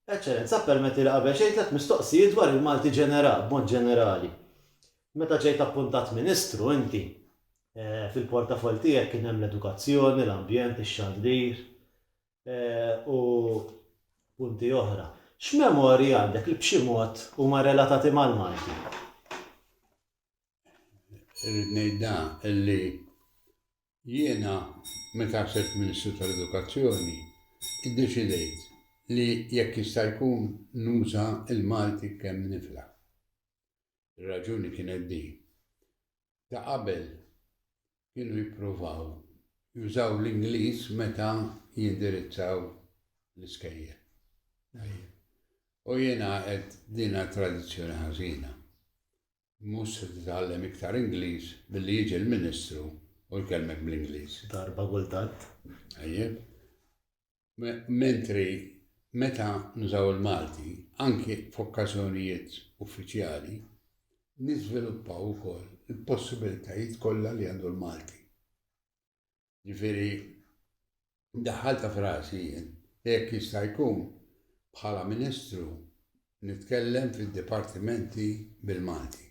Eċċellenza, ppermettili qabel xejn tliet mistoqsijiet dwar il-Malti ġenerali, b'mod ġenerali. Meta ġejt appuntat Ministru inti, fil-portafoll tiegħek kien hemm l-edukazzjoni, l-ambjent, ix-xandir, u punti oħra. X'memorji għandek li b'xi mod huma relatati mal-Malti? Irrid ngħid da illi jiena meta sirt Ministru tal-Edukazzjoni iddeċidejt li jekk jista' jkun nuża l-Malti kemm nifla. Ir-raġuni kienet din. Ta' qabel kienu jippruvaw jużaw l-Ingliż meta jindirizzaw l-iskejjel. U jiena qed dina tradizzjoni ħażina. Mhux se titgħallem iktar Ingliż billi jiġi l-Ministru u jkellmek bl-Ingliż. Darba kultant. Tajjeb. Mentri meta nużaw il-Malti, anki f'okkażjonijiet uffiċjali, niżviluppaw ukoll il-possibilitajiet kollha li għandu l-Malti. Ġifieri, daħħaltha f'rasi jien li jekk jista' jkun bħala Ministru nitkellem fid-dipartimenti bil-Malti.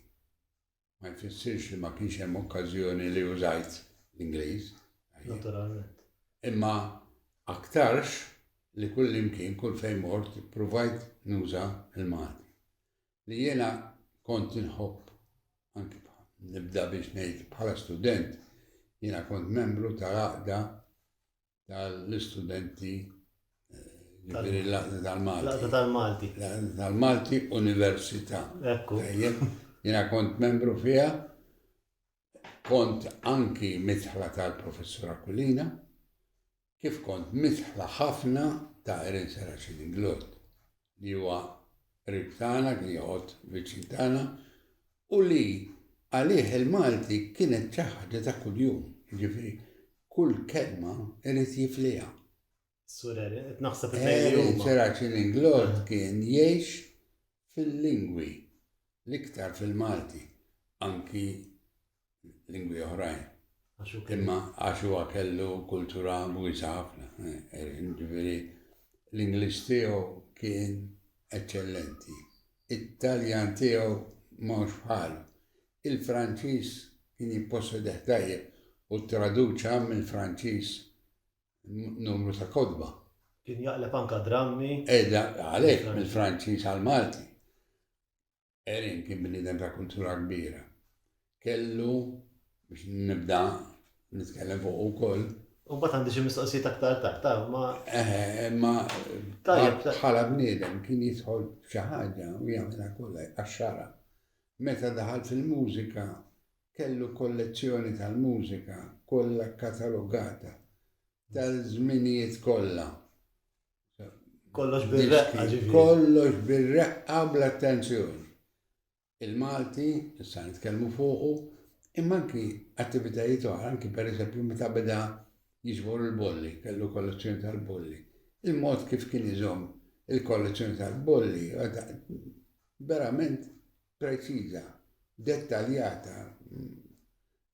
ma jfissirx li ma kienx hemm okkażjoni li użajt l-Ingliż. Naturalment. Imma aktarx li kull imkien, kull fejn mort, provajt nuża l-Malti. Li jiena kont inħobb anki nibda biex ngħid bħala student, jiena kont membru tal-għaqda tal-istudenti eh, l-laqda tal-Malti. Laqda tal-Malti. Laqda tal-Malti Università. Ekku. Jena kont membru fija, kont anki mitħla tal-professor Aquilina, kif kont mitħla ħafna ta' Erin Seraċin Inglot, li huwa ribtana, li jħod viċintana, u li għalih il-Malti kienet xi ħaġa ta' kuljum, jiġifieri kull kelma irid jifliha. Sur Harry, qed naħseb it-tnejn li huma. Serac-in-Inglot kien jgħix fil-lingwi, l-iktar fil-Malti, anki lingwi oħrajn. Imma għax huwa kellu kultura wiesa ħafna. Eh, ġifieri l-Ingliż tiegħu kien eċċellenti. It-Taljan tiegħu mhux bħal. Il-Franċiż kien jippossedi tajjeb u traduċa mill Franċiż numru ta' kodba. Kien jaqleb anka drammi. Edha, eh, għalek mill-Franċiż għal-Malti. Erin kien bniedem ta' kultura kbira. Kellu biex nibda nitkellem fuq ukoll. U bat għandi xi mistoqsijiet aktar tard, ta' ma. Eh, ma bħala bniedem kien jidħol xi ħaġa u jagħmilha kollha għax-xara. Meta daħal fil-mużika kellu kollezzjoni tal-mużika kollha katalogata tal-żminijiet kollha. Kollox bir-reqqa ġifieri. Kollox bir-reqqa bl-attenzjoni. Il-Malti, issa nitkellmu fuqu, imma anki attivitajiet oħra, anki per eżempju meta beda jiġbor il-bolli, kellu kollezzjoni tal-bolli. Il-mod kif kien iżomm il-kollezzjoni tal-bolli, verament preċiża, dettaljata,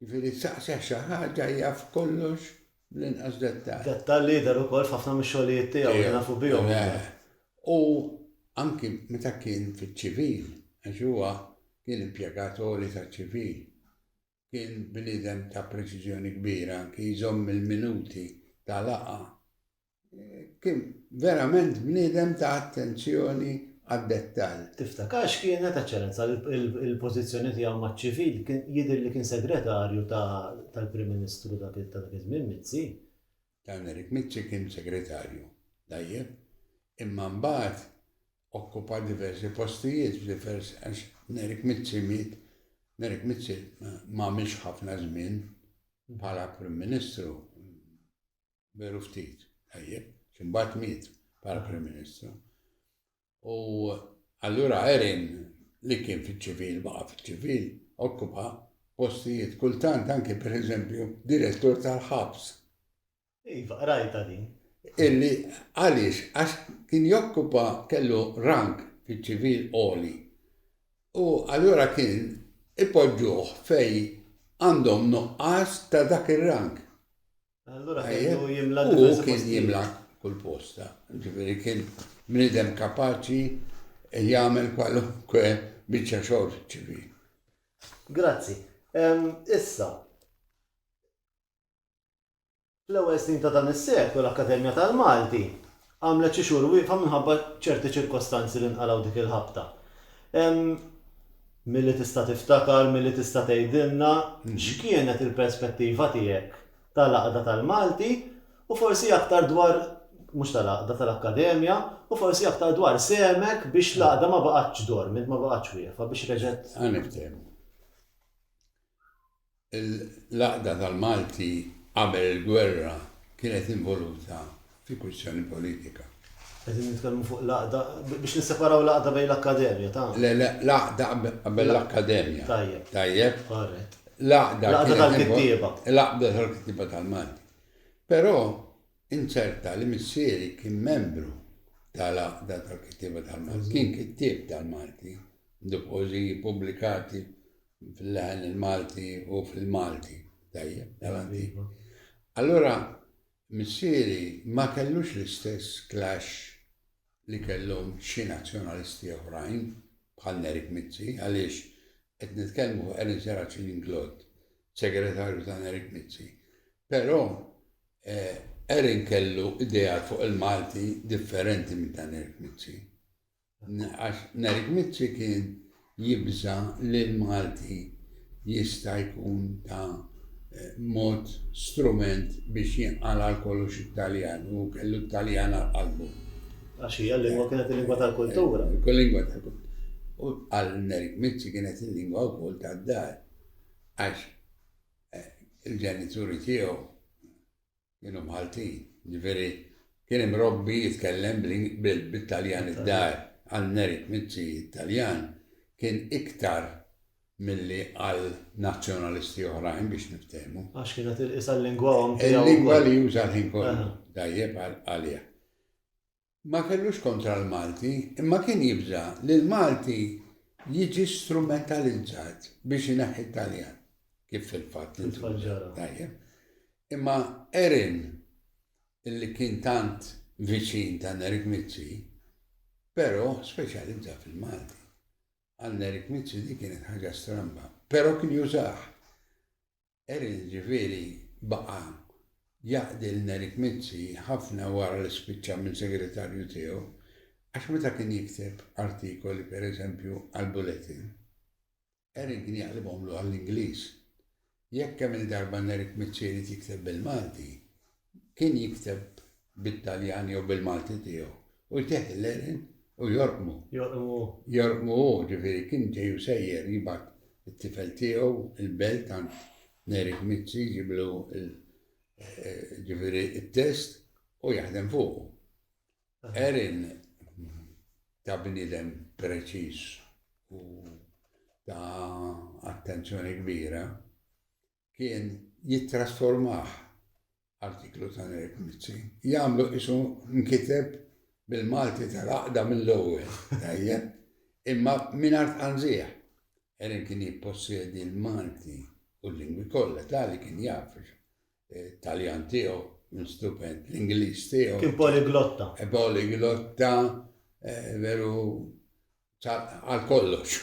Jiġifieri saqsih xi ħaġa jaf kollox bl-inqas dettall. Dettall li jidher ukoll f'ħafna mix-xogħlijiet tiegħu li nafu bihom aħna. U anki meta kien fiċ-ċivil, għax huwa kien impjegat għoli taċ-ċivil, kien bniedem ta' preċiżjoni kbira anki jżomm il-minuti ta' laqgħa. Kien verament bniedem ta' attenzjoni għad-dettall. Tiftakar x'kienet, Eċċellenza, il-pożizzjoni tiegħu maċ-ċivil? Jidher li kien segretarju tal-Prim Ministru ta' dak iż-żmien, Mizzi. Dan Erik Mizzi kien segretarju, tajjeb, imma mbagħad okkupa diversi postijiet f'diversi għax Erik Mizzi miet, Erik Mizzi m'għamilx ħafna żmien bħala Prim Ministru. Veru ftit, tajjeb, x'imbagħad miet bħala Prim Ministru. U allura Erin li kien fiċ-ċivil, baqa' fiċ-ċivil, okkupa postijiet kultant anke pereżempju direttur tal-ħabs. Iva, rajta din. Illi għaliex għax kien jokkupa kellu rank fiċ-ċivil oli. U allura kien ipoġġuh fej għandhom nuqqas ta' dak ir-rank. Allura kellu jimla diversi postijiet. U kien jimla kull posta. Ġifieri kien bniedem kapaċi jagħmel kwalunkwe biċċa xogħol ċivili. Grazzi. Issa, fl-ewwel snin ta' dan is-seklu l-Akkademja tal-Malti Għamlet xi xhur wieqfa minħabba ċerti ċirkostanzi li nqalgħu dik il-ħabta. Ehm, milli tista' tiftakar, milli tista' tgħidilna x'kienet il-perspettiva tiegħek tal-Għaqda tal-Malti u forsi aktar dwar, mhux tal-Għaqda, tal-Akkademja, u forsi aktar dwar sehmek biex l-Għaqda ma baqgħetx dormit, ma baqgħetx wieqfa, biex reġgħet. Ħa niftehmu. l-għaqda tal-Malti qabel il-gwerra kienet involuta fi kwistjoni politika. Qegħdin nitkellmu fuq l-għaqda, biex nisseparaw l-għaqda bejn l-Akkademja ta'. Le, le, l-għaqda qabel l-Akkademja. Tajjeb. Tajjeb. Korrett. L-għaqda tal-kittieba. L-għaqda tal-kittieba tal-Malti. Però inċerta li missieri kien membru tal-għaqda tal-kittieba tal-Malti. Kien kittieb tal-Malti, b'poeżiji pubblikati fil-leħen il-Malti u fil-Malti. Tajjeb, avanti. Allura, missieri ma kellux l-istess clash li kellhom xi nazzjonalisti oħrajn bħal Nerik Mizzi għaliex qed nitkellmu fuq Erin Seraċin Inglod, segretarju ta' Nerik Mizzi. Però eh, Erin kellu idea fuq il-Malti differenti minn ta' Nerik Mizzi. Għax Nerik Mizzi kien jibża' li l-Malti jista' jkun ta' mod strument biex jinqal għal kollox it-Taljan u hu kellu t-Taljan għal qalbu. Għax hija l-lingwa kienet il-lingwa tal-kultura. Il-lingwa tal-kultura. U għal Nerik Mizzi kienet il-lingwa wkoll tad-dar. Għax il-ġenituri tiegħu Kienu Maltin, jiġifieri kien imrobbi jitkellem bit-Taljan id-dar, għal merit miċċi t-Taljan kien iktar milli għal nazzjonalisti oħrajn biex niftehmu. Għax kienet il-qisha l-lingwa omm tiegħu. Il-lingwa li juża l-ħin kollu, tajjeb għaliha. ma kellux kontra l-Malti imma kien jibża' li l-Malti jiġi strumentalizzat biex ineħħi t-Taljan, kif fil-fatt intuża. Tajjeb. Imma Erin, illi kien tant viċin ta' Nerik Mizzi, però speċjalizza fil-Malti. Għal Nerik Mizzi di kienet ħaġa stramba, però kien jużah. Erin ġifieri baqa' jaqdi lil Eric Mizzi ħafna wara li spiċċa minn segretarju tiegħu għax meta kien jikteb artikoli pereżempju għall-Bulletin, Erin kien jaqlibhomlu għall-Ingliż. Jekk kemm-il darba Eric Mizzi jrid jikteb bil-Malti, Kien jikteb bit-Taljan jew bil-Malti tiegħu u jteħħi l-għerien u jorqmu. Jorqmu hu. Jorqmu hu, ġifieri kien ġej u sejjer jibgħat it-tifel tiegħu l-belt għand Neri Gmizzi jġiblu ġifieri t-test u jaħdem fuqu. Għerien ta' bniedem preċiż u ta' attenzjoni kbira kien jittrasformah, artiklu ta' Nerik Mizzi, jagħmlu qisu nkiteb bil-Malti tal-għaqda mill-ewwel, tajjeb, imma mingħajr tqanżigħ. Erin kien jippossjedi l-Malti u l-lingwi kollha, tali kien jaf it-Taljan tiegħu, kien stupend, l-Ingliż tiegħu. Kien poliglotta. Poliglotta, veru, Għal kollox.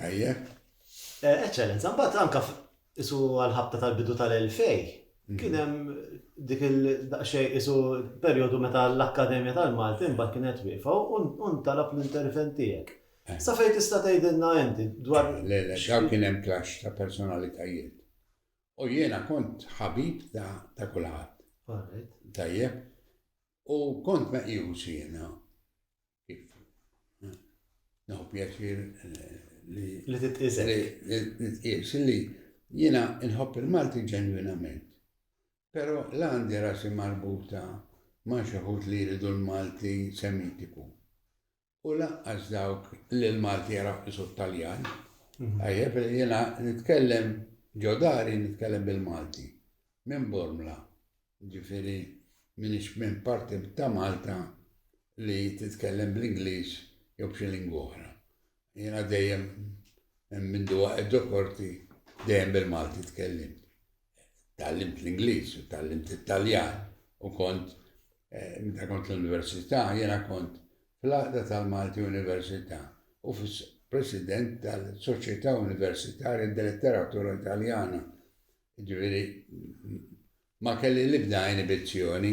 Ejja. Eċċellenza, mbagħad anke isu għal-ħabta tal-bidu tal-2000 mhm. kien hemm dik il-daqsxejn isu perjodu meta l-Akkademja tal-Malti mbagħad kienet wiefa u ntalab l-intervent tiegħek. Eh. Sa fejn tista' tgħidilna inti dwar. Eh, le, le, xaw kien hemm klax ta' personalitajiet. U jiena kont ħabib ta' kulħadd. Tajjeb. U kont meqjus jiena Naħu pjaċir eh, li. Li titqisek. Li titqis li jina nħobb il-Malti ġenwinament. Pero la għandi rasi marbuta ma xaħut li jridu l-Malti semitiku. U laqqas dawk li l-Malti jaraw isu taljan mhm. Għajjeb li jina nitkellem ġodari nitkellem bil-Malti. Minn Bormla. Jiġifieri m'iniex minn parti ta' Malta li titkellem bl-Ingliż jew b'xi lingwa oħra. Jiena dejjem minn mindu waqgħet ġo korti dejjem bil-Malti tkellimt. Tgħallimt l-Ingliż u tgħallimt it-Taljan u kont meta kont l-università jiena kont fl-Għaqda tal-Malti Università u fis President tal-Soċjetà Universitarja d-Letteratura Taljana Jiġifieri ma kelli l-ebda inibizzjoni.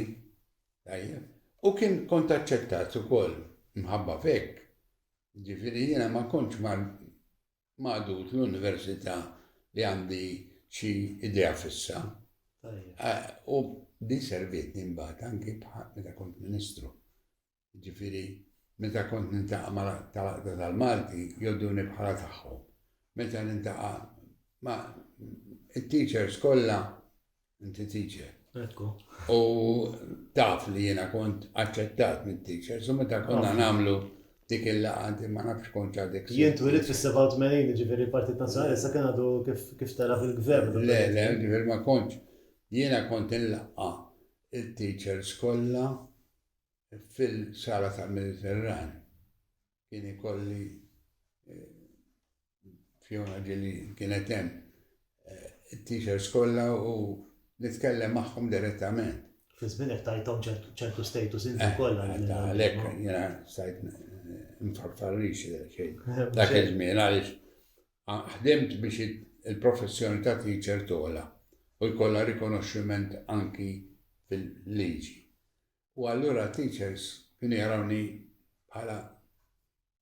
Tajjeb. U kien kont aċċettat ukoll mħabba f'hekk. Jiġifieri jiena ma kontx magħdud l-università li għandi xi idea fissa. U din servietni mbagħad anki meta kont Ministru. Jiġifieri meta kont nintaqa' ma' tal-Għaqda tal-Malti jgħodduni bħala tagħhom. Meta nintaqa' ma' it-teachers kollha inti teacher. Ekku. U taf li jiena kont aċċettat mit-teachers u meta konna nagħmlu dik il-laqa inti ma nafx kont għadek. Jien twilit fis-87 ġifieri l-Partit Nazzjonali sa kien għadu kif tara fil-gvern. Le, le, ġifieri ma kontx. Jiena kont il-laqqa il-teachers kollha fil-sala tal-Mediterran kien ikolli eh, Fiona ġili kienet hemm eh, it-teachers kollha u nitkellem magħhom direttament. Fi żminek tajthom ċertu status inti eh, kollha. Għalhekk jiena stajt mfarfarrix xejn. Dak iż-żmien għaliex ħdimt biex il-professjoni ta' teacher tola u jkollha rikonoxximent anki fil-liġi. U allura teachers kienu jarawni bħala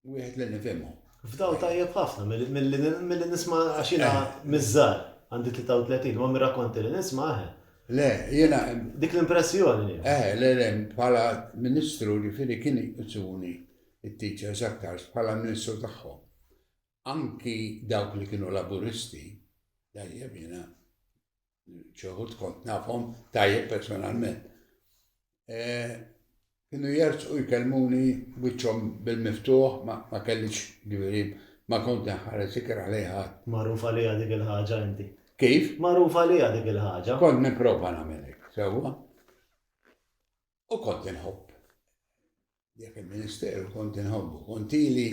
wieħed li nifhimhom. F'dawl tajjeb ħafna milli nisma' għax jiena eh. miż-żgħar għandi 33 ma mir-rakkonti li nisma' eh. Le, jiena. Dik l-impressjoni. Eh, le, le, bħala ministru li fili kien iqsuni it-teachers aktar bħala ministru tagħhom. Anki dawk li kienu laburisti, dajjeb jiena Xi wħud kont nafhom tajjeb personalment. E, kienu jerġqu jkellmuni wiċċhom bil-miftuħ ma kellix ġifieri ma kont nħares ikra għalejha. Magħruf għalija dik il-ħaġa inti. Kif? Magħruf għalija dik il-ħaġa. Kont nipprova nagħmel hekk, sewwa. U kont inħobb. Dak il-ministeru kont inħobbu, kont ili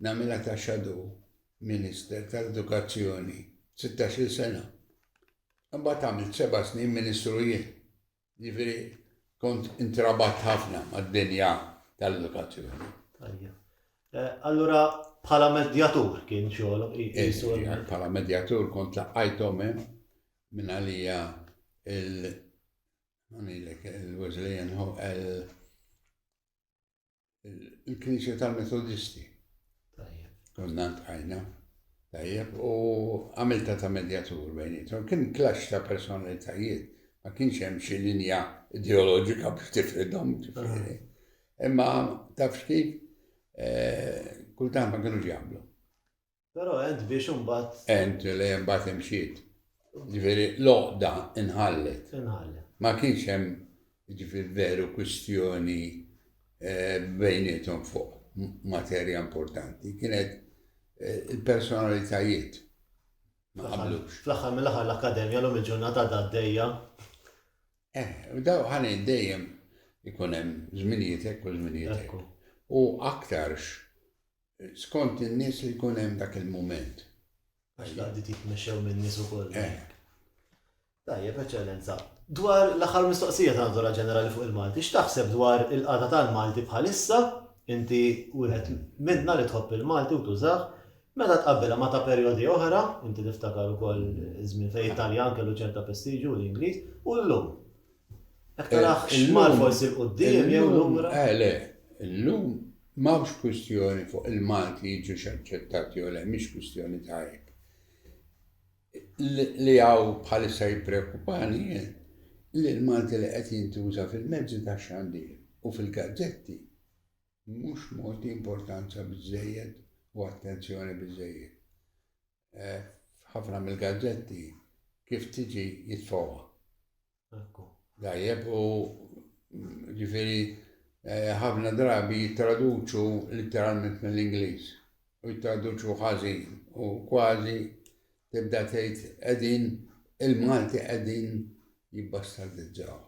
nagħmilha ta' shadow minister tal-edukazzjoni 16-il sena. Imbagħad għamilt seba' snin ministru jien. Jiġifieri kont intrabat ħafna mad-dinja tal-edukazzjoni. Eh, allura bħala medjatur kien xogħol. Bħala medjatur kont laqajthom hemm minn għalija Għamilek il-Wesleyan hu il-Knisja tal-Metodisti. Konna tqajna. Tajjeb, u għamilta ta' medjatur bejnietom. Kien klax ta' personalitajiet, ma kienx hemm xi linja ideoloġika biex tifridhom ġifieri. Imma taf x'kif, eh, kultant ma kienux jaqblu. Però għent biex imbagħad. Għent li imbagħad imxiet. Ġifieri l-għoqda inħallet. Inħallet. Ma kienx hemm ġifieri veru kwistjoni eh, bejnietom fuq materja importanti. Kienet eh, il-personalitajiet ma qablux. Fl-aħħar mill-aħħar l-Akkademja l-lum il-ġurnata għaddejja. Eh, daw ħani dejjem ikun hemm żminijiet hekk u żminijiet hekk. U aktarx Skont in-nies li jkun hemm dak il-mument. Għax l-għaqdiet jitmexxew min-nies ukoll. Hekk. Tajjeb, Eċċellenza. Dwar l-aħħar mistoqsija ta' natura ġenerali fuq il-Malti, x'taħseb dwar il-qagħda tal-Malti bħalissa, inti wieħed minna li tħobb il-Malti u tużah, meta tqabbbilha ma' ta' perjodi oħra, inti tiftakar ukoll iż-żmien fejn it-Taljan kellu ċerta prestiġju u l-Ingliż, u llum? Jekk taraħ xmar forsi l-quddiem jew lura. Eh le, illum m'hawnx kwistjoni fuq il-Malti jiġux aċċettati jew le, mhix kwistjoni ta' hekk. Li hawn bħalissa jippreokkupani li l-Malti li qed jintuża fil-mezzi ta' xandir u fil-gazzetti mhux mogħti importanza biżejjed u attenzjoni biżejjed. eh, f'ħafna mill-gazzetti kif tiġi jitfowa. Dajjeb u ġifiri eh, ħafna drabi jittraduċu literalment mill-Ingliż u jittraduċu ħażin u kważi tibda tgħid qegħdin il-Malti qegħdin jibbastardizzaw.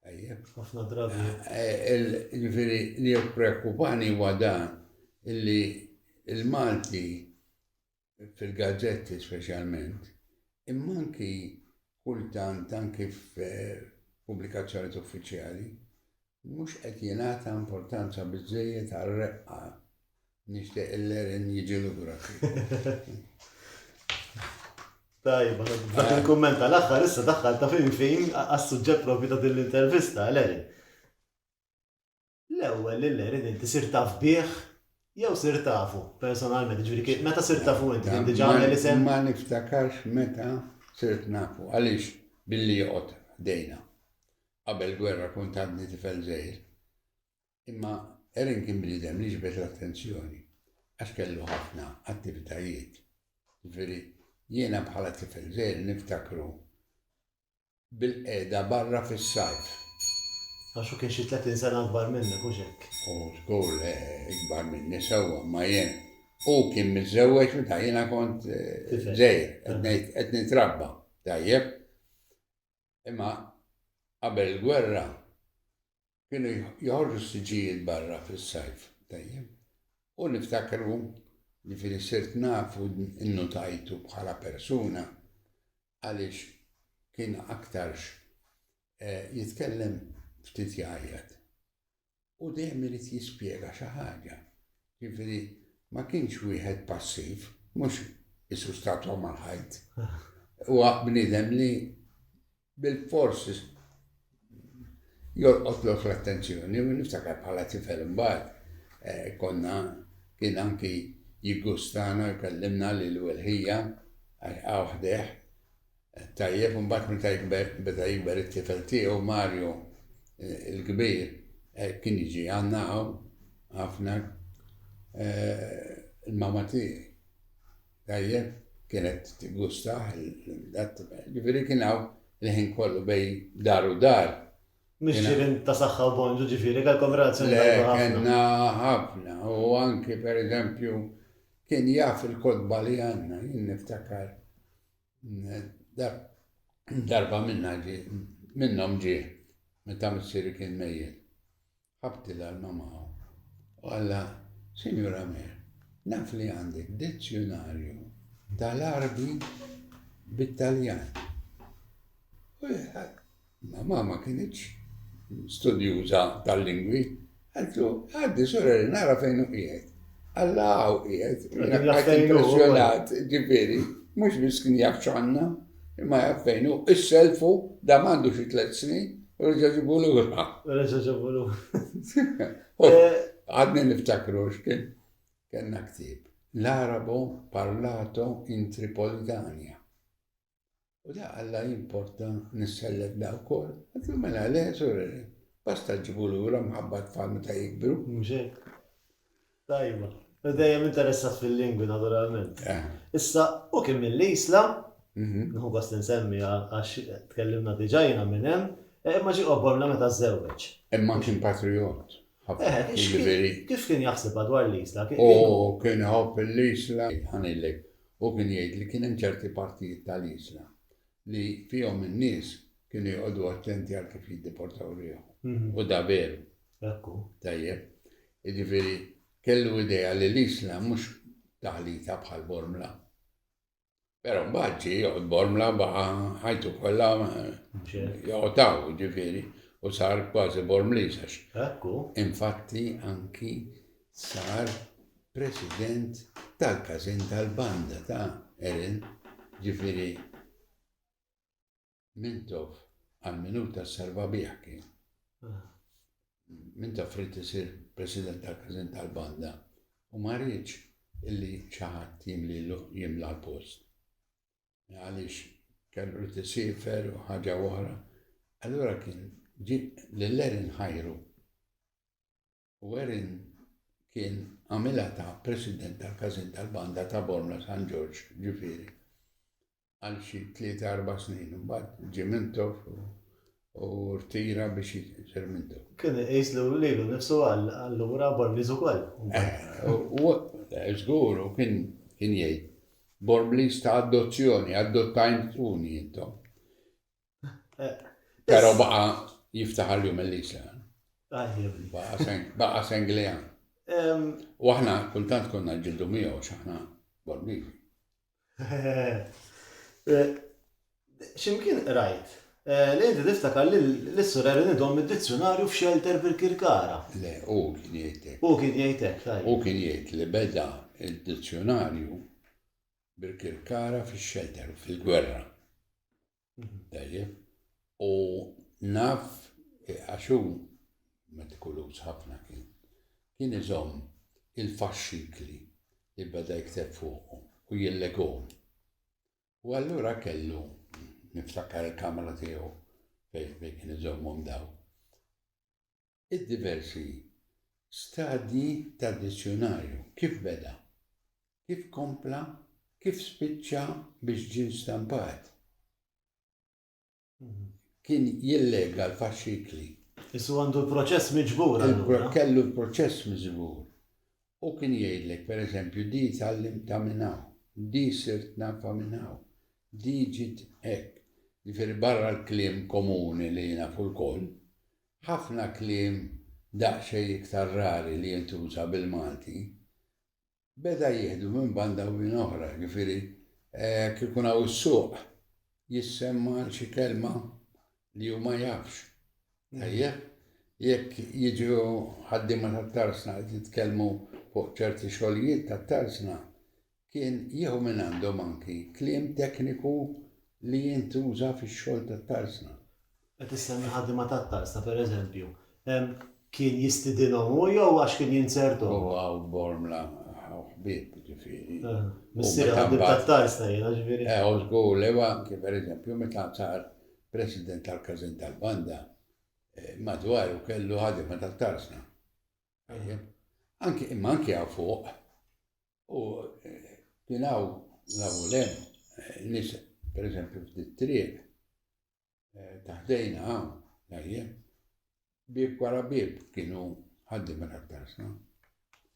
Ħafna drabi. Eh, eh, ġifiri li preokkupani huwa dan illi il-Malti fil-gazzetti speċjalment, imma anki kultant anki f'pubblikazzjonijiet uffiċjali, mhux qed jingħata importanza biżejjed għar-reqqa. Nixtieq il-lerin jiġi lura. Tajba, dak il-kumment tal-aħħar issa daħħal ta' fin fin għas-suġġett propju ta' din l-intervista, Lerin. L-ewwel li l-għerien inti sirt taf bih jew sirt tafu personalment, jiġifieri meta sirt tafu inti kien diġà għamel isem? Ma niftakarx meta sirt nafu għaliex billi joqgħod ħdejna. Qabel il-gwerra kont għadni tifel żgħir. Imma Erin kien bniedem li ġbed l-attenzjoni għax kellu ħafna attivitajiet. Jiġifieri jiena bħala tifel żgħir niftakru bil-qegħda barra fis-sajf. Għax hu kien xi tletin sena akbar minnek, hux hekk? Hu żgur le, ikbar minni sewwa, imma jien. Hu kien miżżewweġ meta jiena kont żgħir, qed ngħid qed nitrabba, tajjeb? Imma qabel il-gwerra Kienu joħorġu s-siġġijiet barra fis-sajf, tajjeb, u niftakru, jiġifieri sirt naf u nnutajtu bħala persuna għaliex kien aktarx jitkellem ftit jgħajjat. U dejjem irid jispjega xi ħaġa. Jiġifieri ma kienx wieħed passiv, mhux qisu statwa mal-ħajt. Huwa bniedem li Bilfors jolqotlok l-attenzjoni u niftakar bħala tifel imbagħad konna kien anki jiggustana u jkellimna lil Wilħija għax hawn ħdejh. Tajjeb, imbagħad meta jikber, beda jikber it-tifel tiegħu Mario il-kbir kien jiġi għandna hawn ħafna il-mama tiegħi. Tajjeb, kienet tiggustah il-latte mater. Ġifieri kien hawn il-ħin kollu bejn dar u dar. Mhux ġirien ta' saħħa u bonġu ġifieri, kellkom relazzjoni tajba ħafna. Le, kellna ħafna u anki pereżempju kien jaf il-kotba li għandna, jien niftakar darba minnha ġie minnhom ġie meta missieri kien mejjet. Ħabt il-arma ma' hawn u qalha, Sinjura Mer, naf li għandek dizzjunarju tal-Għarbi bit-Taljan. U ma ma ma kienitx studjuża tal-lingwi, għaltlu, għaddi sura li nara fejn u qiegħed. Alla għaw qiegħed, impressjonat, ġifieri, mhux biss kien jaf x'għandna. Imma jaf fejn hu, isselfu, dam għandu xi tliet snin, u reġa' ġibu lura. Reġa' ġibu lura. Eh, Għadni niftakru x'kien kellna ktieb. L-Arabu parlato in Tripolitania. U da għalla jimporta nissellek da wkoll. Għatlu mela le, sorreli. Basta ġibu lura mħabba tfal meta jikbru. Mxek. Tajba. U dejjem interessat fil-lingwi naturalment. Issa, hu kien mill-Isla, nieħu gost li nsemmi għax tkellimna diġà jiena minn hemm, imma ġie Oborna meta żżewweġ. Imma kien patrijott. Kif kien jaħsibha dwar l-Isla? Hu kien iħobb l-Isla. Ħa ngħidlek, hu kien jgħid li kien hemm ċerti partijiet tal-Isla li fihom in-nies kienu joqogħdu attenti għal kif jiddeportaw riħhom. U da veru. Ekku. Tajjeb. Jiġifieri kellu idea li l-Isla mhux taħlita bħal Bormla. Pero mbagħad ġie joqgħod Bormla baqa' ħajtu kollha joqgħotaw ġifieri u sar kważi Bormliż għax. Ekku. Infatti anki sar President tal-każin tal-banda ta' Eren, ġifieri Mintoff għal min hu ta' Sarvabih kien. Mintoff ried isir President tal-każin tal-banda u ma riedx illi xi ħadd jimlilu jimla l-post. Għaliex kellu li tisifer u ħaġa oħra. Allura kien ġi l-Eren ħajru u Erin kien għamilha ta' President tal-Każin tal-Banda ta' Bormla San Ġorġ ġifieri għal xi tlieta erba' snin u mbagħad ġie Mintoff u rtira biex jisir Mintoff. Kien iqis li lilu nnifsu għal allura Bormliż ukoll. Eh, żgur u kien jgħid Bormliż ta' adozzjoni, adottajtuni intom. Pero baqa jiftaħar l-jum il-lisa. Baqa senglija. U aħna kuntant konna ġildu miegħu x'aħna borbivi. Eh, ximkien rajt, eh, li inti tiftakar li l-issur erin idom id-dizzjonarju f'xelter bil-kirkara. Le, u kien jgħidlek. U kien jgħidlek, tajb. U kien jgħid li beda id-dizzjonarju bil-kirkara fix-xelter fil-gwerra. Tajjeb. U naf għax hu metikuluż ħafna kien. Kien iżomm il-faxxikli li beda jikteb fuqhom u jillegom. U allura kellu niftakar il-kamra tiegħu fejn kien iżommhom daw. Id-diversi stadji tad-dizzjunarju, kif beda, kif kompla, kif spiċċa biex ġie stampat, kien jillega l-faxxikli. Issa hu għandu l-proċess miġbur allura. Kellu l-proċess miżbur. U kien jgħidlek, pereżempju, di tgħallimt ta' minn hawn, di sirt nafa minn hawn, di ġiet hekk. Jifieri barra l-kliem komuni li nafu lkoll, Ħafna kliem daqsxejn iktar rari li jintuża bil-Malti beda jieħdu minn banda u minn oħra, jiġifieri jekk ikun hawn is-suq jissemma għal xi kelma li hu ma jafx, tajjeb? Jekk jiġu ħaddiema tat-tarsna qed jitkellmu fuq ċerti xogħlijiet tat-tarsna, Kien jieħu mingħandhom anki kliem tekniku li jintuża fix-xogħol tat-tarsna. Qed isemmi ħaddiema tat-tarsna, pereżempju, kien jistidinhom hu jew għax kien jinzerthom? Huwa u Bormla ħaw ħbieb, jiġifieri. Missieru ħaddiem tat-tarsna jiena, jiġifieri. Eh, u żgur li huwa anki, pereżempju, meta sar President tal-Każin tal-Banda, madwaru kellu ħaddiema tat-tarsna. Tajjeb. Anki, imma anki hawn fuq, U kien hawn nafu lem nis pereżempju f'dit triq eh, taħdejna hawn tajjeb bib wara bib kienu ħaddi minn aktar sna.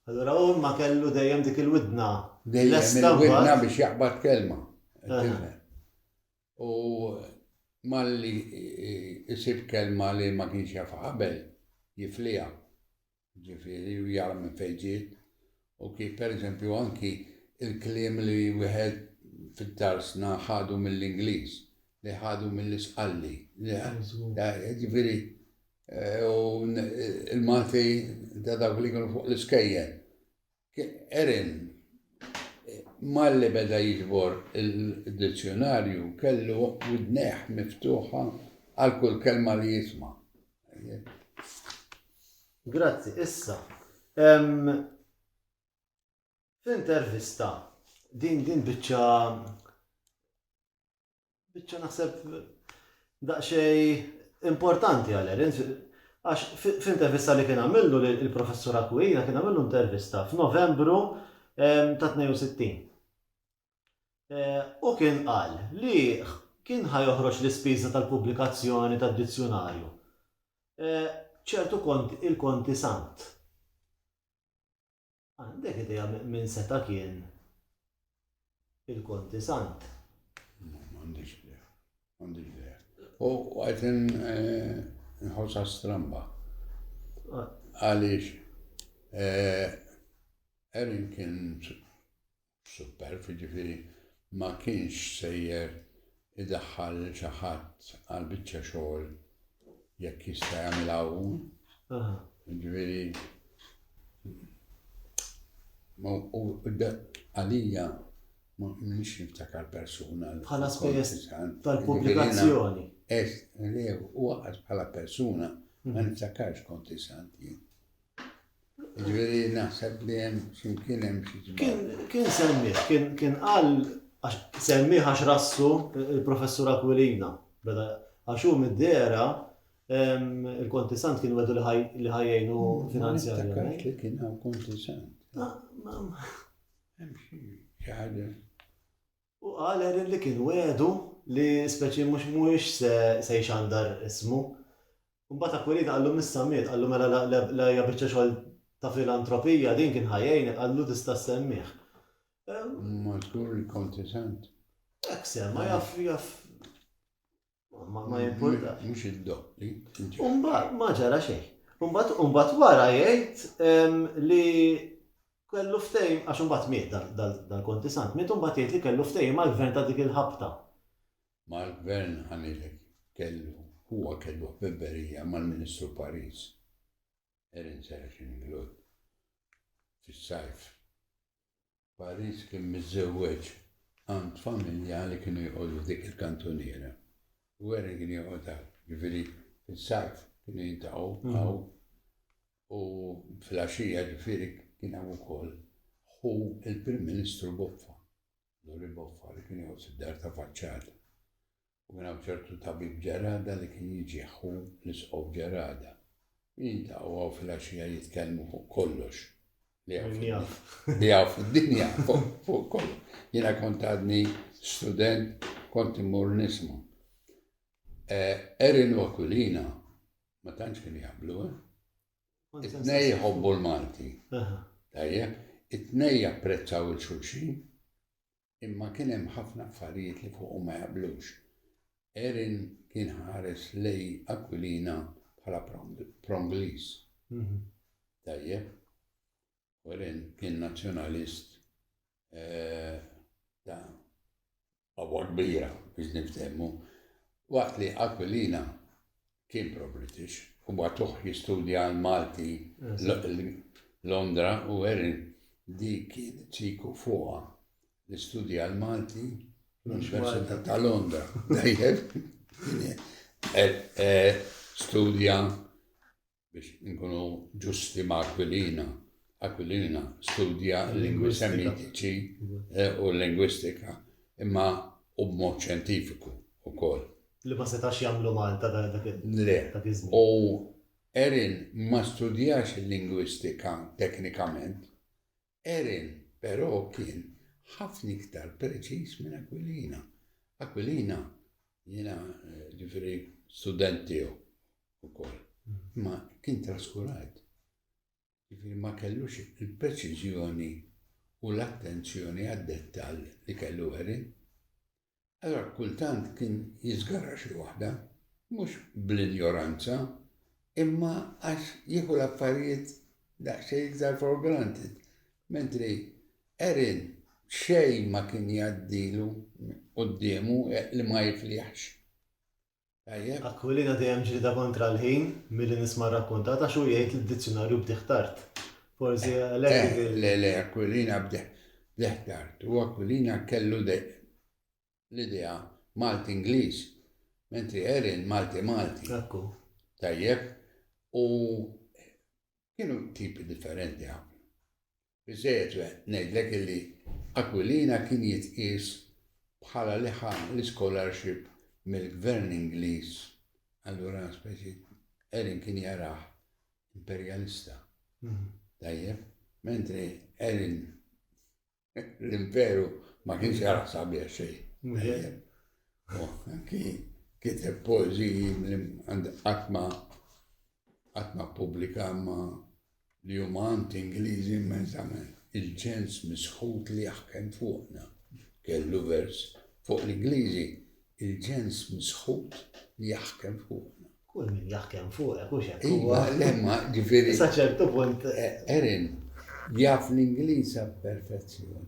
Allura u ma kellu dejjem dik il-widna. Dejjem il-widna biex jaqbad kelma. U malli jisib kelma li ma kienx jaf qabel jiflija. Ġifieri u jara minn fejn ġiet u kif pereżempju anki l-kliem li wieħed fid-darsna ħadu mill-Ingliż, li ħadu mill-Isqalli. Ġifieri u l-Malti ta' dawk li kienu fuq l-iskejjel. Erin, malli beda jiġbor id-dizzjunarju, kellu widnejh miftuħa għal kull kelma li jisma'. Grazzi, issa. Fl-intervista, din din biċċa Biċċa naħseb daqsxej importanti għal Erin, għax f'intervista li kien għamillu il-professur Aquilina kien għamillu intervista f'Novembru ehm, ta' 62. Eh, u kien qal li kien ħajoħroġ l-ispiża tal-pubblikazzjoni tad-dizzjunarju. Eh, ċertu kont il-konti sant. Għandek idea min seta' kien il-Konti Sant? M'għandix idea. M'għandix idea. U għajt eh, nħossa stramba. Ah. Għaliex eh, Erin kien superb, jiġifieri ma kienx sejjer idaħħal lil xi ħadd għal biċċa xogħol jekk jista' jagħmilha hu. Jiġifieri għalija m'iniex niftakar persuna. Bħala spejjeż tal-pubblikazzjoni. Huwa bħala persuna ma mhm. niftakarx kont isant jien. Ġifieri naħseb li hemm x'imkien hemm xi Kien kien semmih, kien kien qal għax semmih għax rassu il-Professur Aquilina. Beda għax hu mid-dera il-Konti Sant kien wedu li ħajjejnu finanzjarjament. Li kien hawn Konti Sant. Hemm xi ħaġa. U qal Erin li kien wegħdu li speċi mhux mhuwiex se se jxandar ismu. U mbagħad Aquilina qallu m'issa miet, qallu mela la la la hija biċċa xogħol ta' filantropija din kien ħa jgħinek, qallu tista' ssemmih. Imma żgur li kont isent. Hekk semma, jaf jaf. Ma ma jimpurtax. Mhux id-doppli. Umbat ma ġara xejn. Umbat umbat wara jgħid ehm, li kellu ftejm, għax umbat miet dal-konti sant, miet umbat jgħid li kellu ftejm mal-gvern ta' dik il-ħabta. Mal-gvern ħanilek kellu, huwa kellu ħbibberija mal-Ministru Paris. Erin Serafin Glod. Fis-sajf. Paris kien miżżewweġ għand familja li kienu joqogħdu f'dik il-kantuniera. U Erin kien joqgħod hawn. Ġifieri fis-sajf kienu jiltaqgħu hawn u fil-għaxija ġifieri kien hemm ukoll ħu il-Prim Ministru Boffa, Lori Boffa li kien joqgħod fid-dar ta' faċċata. U kien hawn ċertu tabib Ġerada li kien jiġi ħu l-Isqof Ġerada. U jiltaqgħu hawn filgħaxija jitkellmu fuq kollox li hawn fid-dinja. Li hawn fid-dinja, fuq kollox. Jiena kont għadni student kont immur nisma'. Erin u Aquilina ma tantx kienu jaqblu, eh? It-tnejn jħobbu l-Malti. Tajjeb, it-tnejn japprezzaw il-xulxin. imma kien hemm ħafna affarijiet li fuqhom ma jaqblux. Erin kien ħares lej Aquilina bħala prongliż. Tajjeb? U Erin kien nazzjonalist eh, ta' għabwa kbira biex niftemmu. Waqt li Aquilina Kien pro-British. U bagħtuh jistudja għall-Malti Londra u Erin dik kienet siku fuqha li studja l-Malti fl-Università ta' Londra. Dajjeb. Studja biex nkunu ġusti ma' Aquilina. Aquilina studja l-lingwi semitiċi u l-lingwistika imma u b'mod xjentifiku wkoll. Li ma setax jagħmlu Malta dak iż-żmien. Le. U Erin ma studjax il-lingwistika teknikament. Erin, però, kien ħafna iktar preċiż minn Aquilina. Aquilina, jiena ġifieri student tiegħu wkoll, imma kien traskurat. Jiġifieri ma kellux il-preċiżjoni u l-attenzjoni għad-dettall li kellu Erin. Allura kultant kien jiżgarra xi waħda, mhux bl-injoranza, imma għax jieħu l-affarijiet daqsxejn iktar for granted, mentri Erin xejn ma kien jgħaddilu quddiemu li ma jiflihx. Tajjeb. Aquilina dejjem ġlieda kontra l-ħin milli nisma' rrakkontat għax hu jgħid li d-dizzjunarju bdieh tard. Forsi għalhekk dik il-. Le, le, Aquilina bdieh bdieh tard. Hu Aquilina kellu l-idea Malti-Ingliż, mentri Erin Malti-Malti. Hekk hu. Tajjeb. U kienu tipi differenti ħafna. Biżżejjed ngħidlek illi Aquilina kien jitqies bħala li ħa l-ischolarship mill-Gvern Ingliż, allura speċi Erin kien jarah imperjalista. Tajjeb? Mentri Erin l-imperu ma kienx jarah sabiħ xejn. Anki kiteb poeżiji qatt ma qatt ma pubblika ma li huma anti-Ingliżi immensament. Il-ċens misħut li jaħkem fuqna kellu vers fuq l-Ingliżi, Il-ċens misħut li jaħkem fuqna. Kull min jaħkem fuqek, hux hekk huwa? Iva, le imma, ġifieri. Sa ċertu punt. Erin, jaf l-Ingliż għall-perfezzjoni.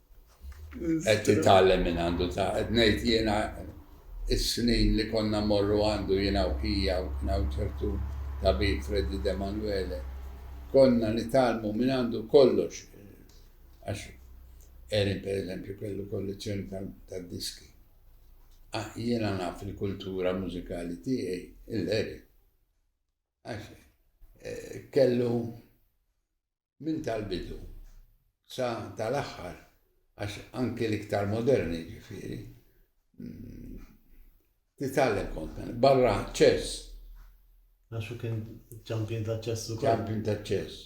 qed titgħallem minn għandu ta' qed ngħid jiena is-snin li konna morru għandu jiena u ħija u kien hawn ċertu tabib Freddy De Manuele konna nitgħallmu minn għandu kollox għax Erin pereżempju kellu kollezzjoni tad-diski. Ah, jiena naf il-kultura mużikali tiegħi il-Erin. Għax eh, kellu minn tal-bidu sa tal-aħħar, għax anki l-iktar moderni ġifieri, titgħallem kont minn barra ċess. Għax u kien ċampjun ta' ċess ukoll. Ċampjun ta' ċess.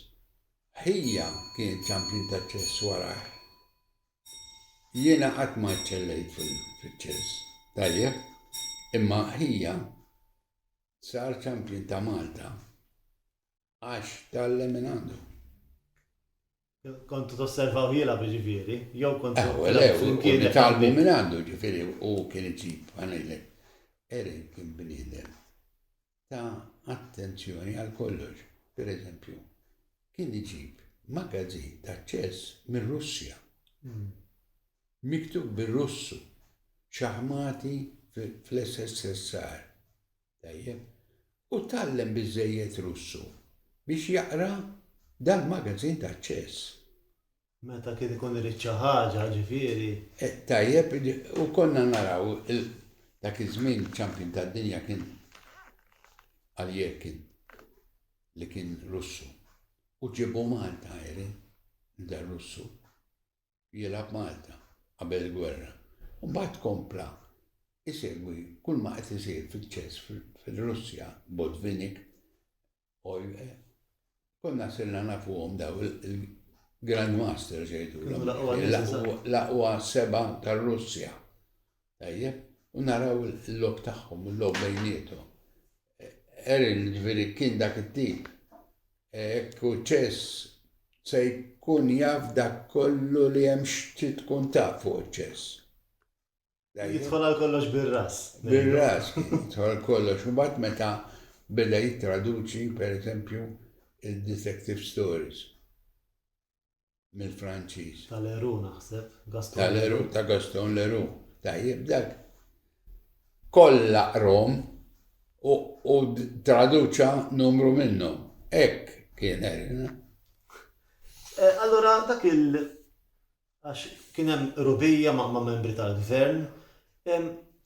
Ħija kien ċampjun ta' ċess wara. Jiena qatt ma ċċellejt fil-ċess. Tajjeb, imma ħija sar ċampjun ta' Malta Għax tgħallem minn għandu. Kontu tosservaw jila ġifieri, jew kontu. Ew, ew, flimkien talbu minn għandu ġifieri u kien iġib għanilek. Eri kien bniedem ta' attenzjoni għal kollox, per eżempju, kien iġib magazin ta' ċess minn Russja. Hmm. Miktub bir-Russu, ċaħmati fl-SSSR. Tajjeb. U tgħallem biżżejjed Russu biex jaqra dal-magazin ta' ċess. Meta kien ikun irid xi ħaġa, ġifieri. Tajjeb, u konna naraw dak iż-żmien iċ-champion tad-dinja kien Alyekin li kien Russu. U ġiebu Malta, Erin, dar-Russu. jilgħab Malta qabel il-gwerra u mbagħad kompla jsegwi kull ma qed isir fiċ-ċess fir-Russja, Botvinnik, Oye, konna sirna nafuhom daw il-Grandmasters jgħidulhom, l-aqwa seba' tar-Russja. Tajjeb, u naraw il-logħob tagħhom u l-logħob bejniethom. Erin, ġifieri kien dak it-tip. Hekk u ċess se jkun jaf dak kollu li hemm x'trid tkun taf fuq iċ-ċess. Jidħol għal kollox bir-ras. Bir-ras, jidħol għal kollox. U mbagħad meta beda jittraduċi, pereżempju, il-detective stories. mill-Franċiż. Ta' Leru naħseb, Gaston Leru. Ta' Gaston Leru, tajjeb dak. Kollha qrom u traduċa numru minnhom. Hekk kien eh, Allura dak il għax kien hemm rubija ma' membri tal-gvern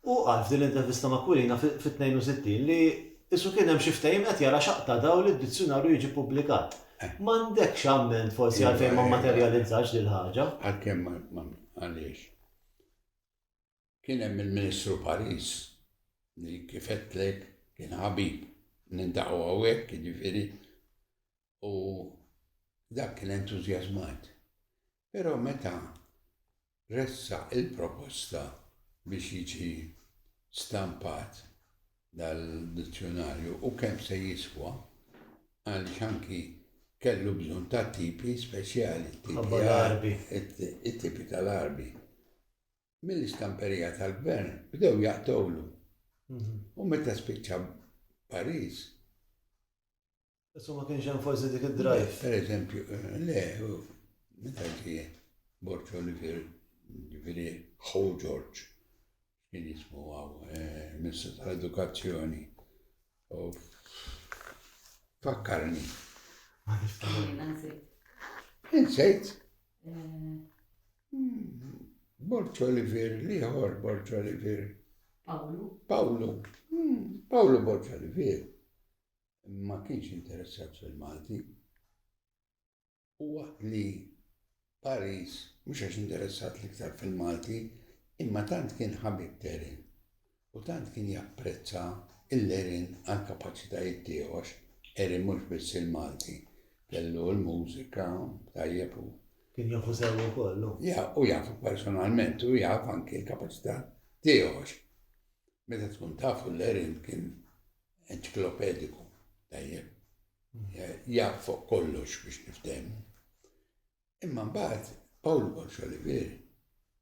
Hu qal f'din l-intervista ma' Quirina fit-62 li qisu kien hemm xi ftehim qed jara x'haqq ta' dawl li d-dizzjunarju jiġi ppubblikat. M'għandekx amment forsi għalfejn ma mmaterjalizzatx dil-ħaġa? Għalkemm ma għaliex? Kien hemm il-Ministru Paris li kif għedtlek kien ħabib. Nindaqgħu hawnhekk jiġifieri. u dak kien entużjażmat. Però meta ressaq il-proposta biex jiġi stampat dal-dizzjunarju u kemm se jiswa, għaliex anki kellu bżonn ta' tipi speċjali, it-tipi tal-għarbi, mill-istamperija tal-gvern bdew jaqtgħulu. U meta spiċċa Pariġ, Issa ma kienx hemm forsi dik id-drive. Per eżempju, le, meta ġie Borġ Olivier, ġifieri ħu Ġorġ, kien jismu għaw, eh, Ministru tal-Edukazzjoni. Fakkarni. Insejt. Eh. Hmm, Borġ Olivier, liħor Borġ Olivier. Pawlu. Pawlu. Hmm, Pawlu Borġ Olivier. ma kienx interessat fil-Malti u waqt li Paris, mhux għax interessat l-iktar fil-Malti, imma tant kien ħabib t'Erin u tant kien japprezza lil Erin għall-kapaċitajiet tiegħu għax Erin mhux biss il-Malti, kellu l-mużika tajjeb u. Kien jafu sew ukoll hu. Ja, u jafu personalment u jaf anki l-kapaċità tiegħu għax meta tkun tafu l-Erin kien Enċiklopediku, tajjeb. Jaf fuq kollox biex niftehmu. Imma mbagħad Paul Walsh Olivier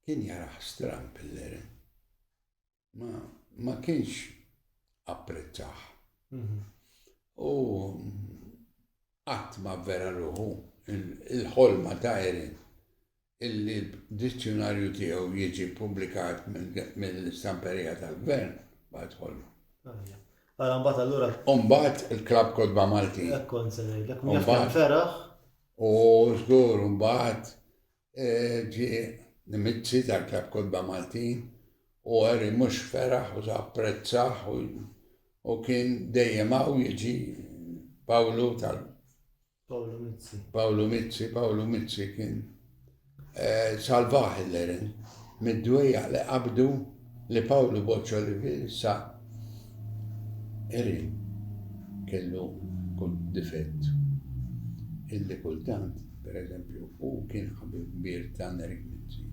kien jaraħ stram pilleren. Ma, ma kienx apprezzaħ. Mhm. U qatt ma vera ruħu il-ħolma ta' Erin illi d-dizzjunarju tiegħu jiġi ppubblikat mill-Stamperija tal-Gvern, mbagħad ħollu. Ara mbagħad allura. U mbagħad il-Klabb Kotba Maltin. Hekk kont se ngħidlek, minn feraħ. U żgur mbagħad e, ġi nimizzi tal-Klabb Kotba Maltin u għeri mhux feraħ u apprezzaħ u kien dejjem hawn jiġi Pawlu tal Pawlu Mizzi. Pawlu Mizzi, Pawlu Mizzi kien eh, salvaħ il-lerin mid-dwejja li qabdu li Pawlu Boċċo li fissa erin kellu kull difett. Illi kultant, per eżempju, u kien ħabib bir ta' Nerik Mizzi.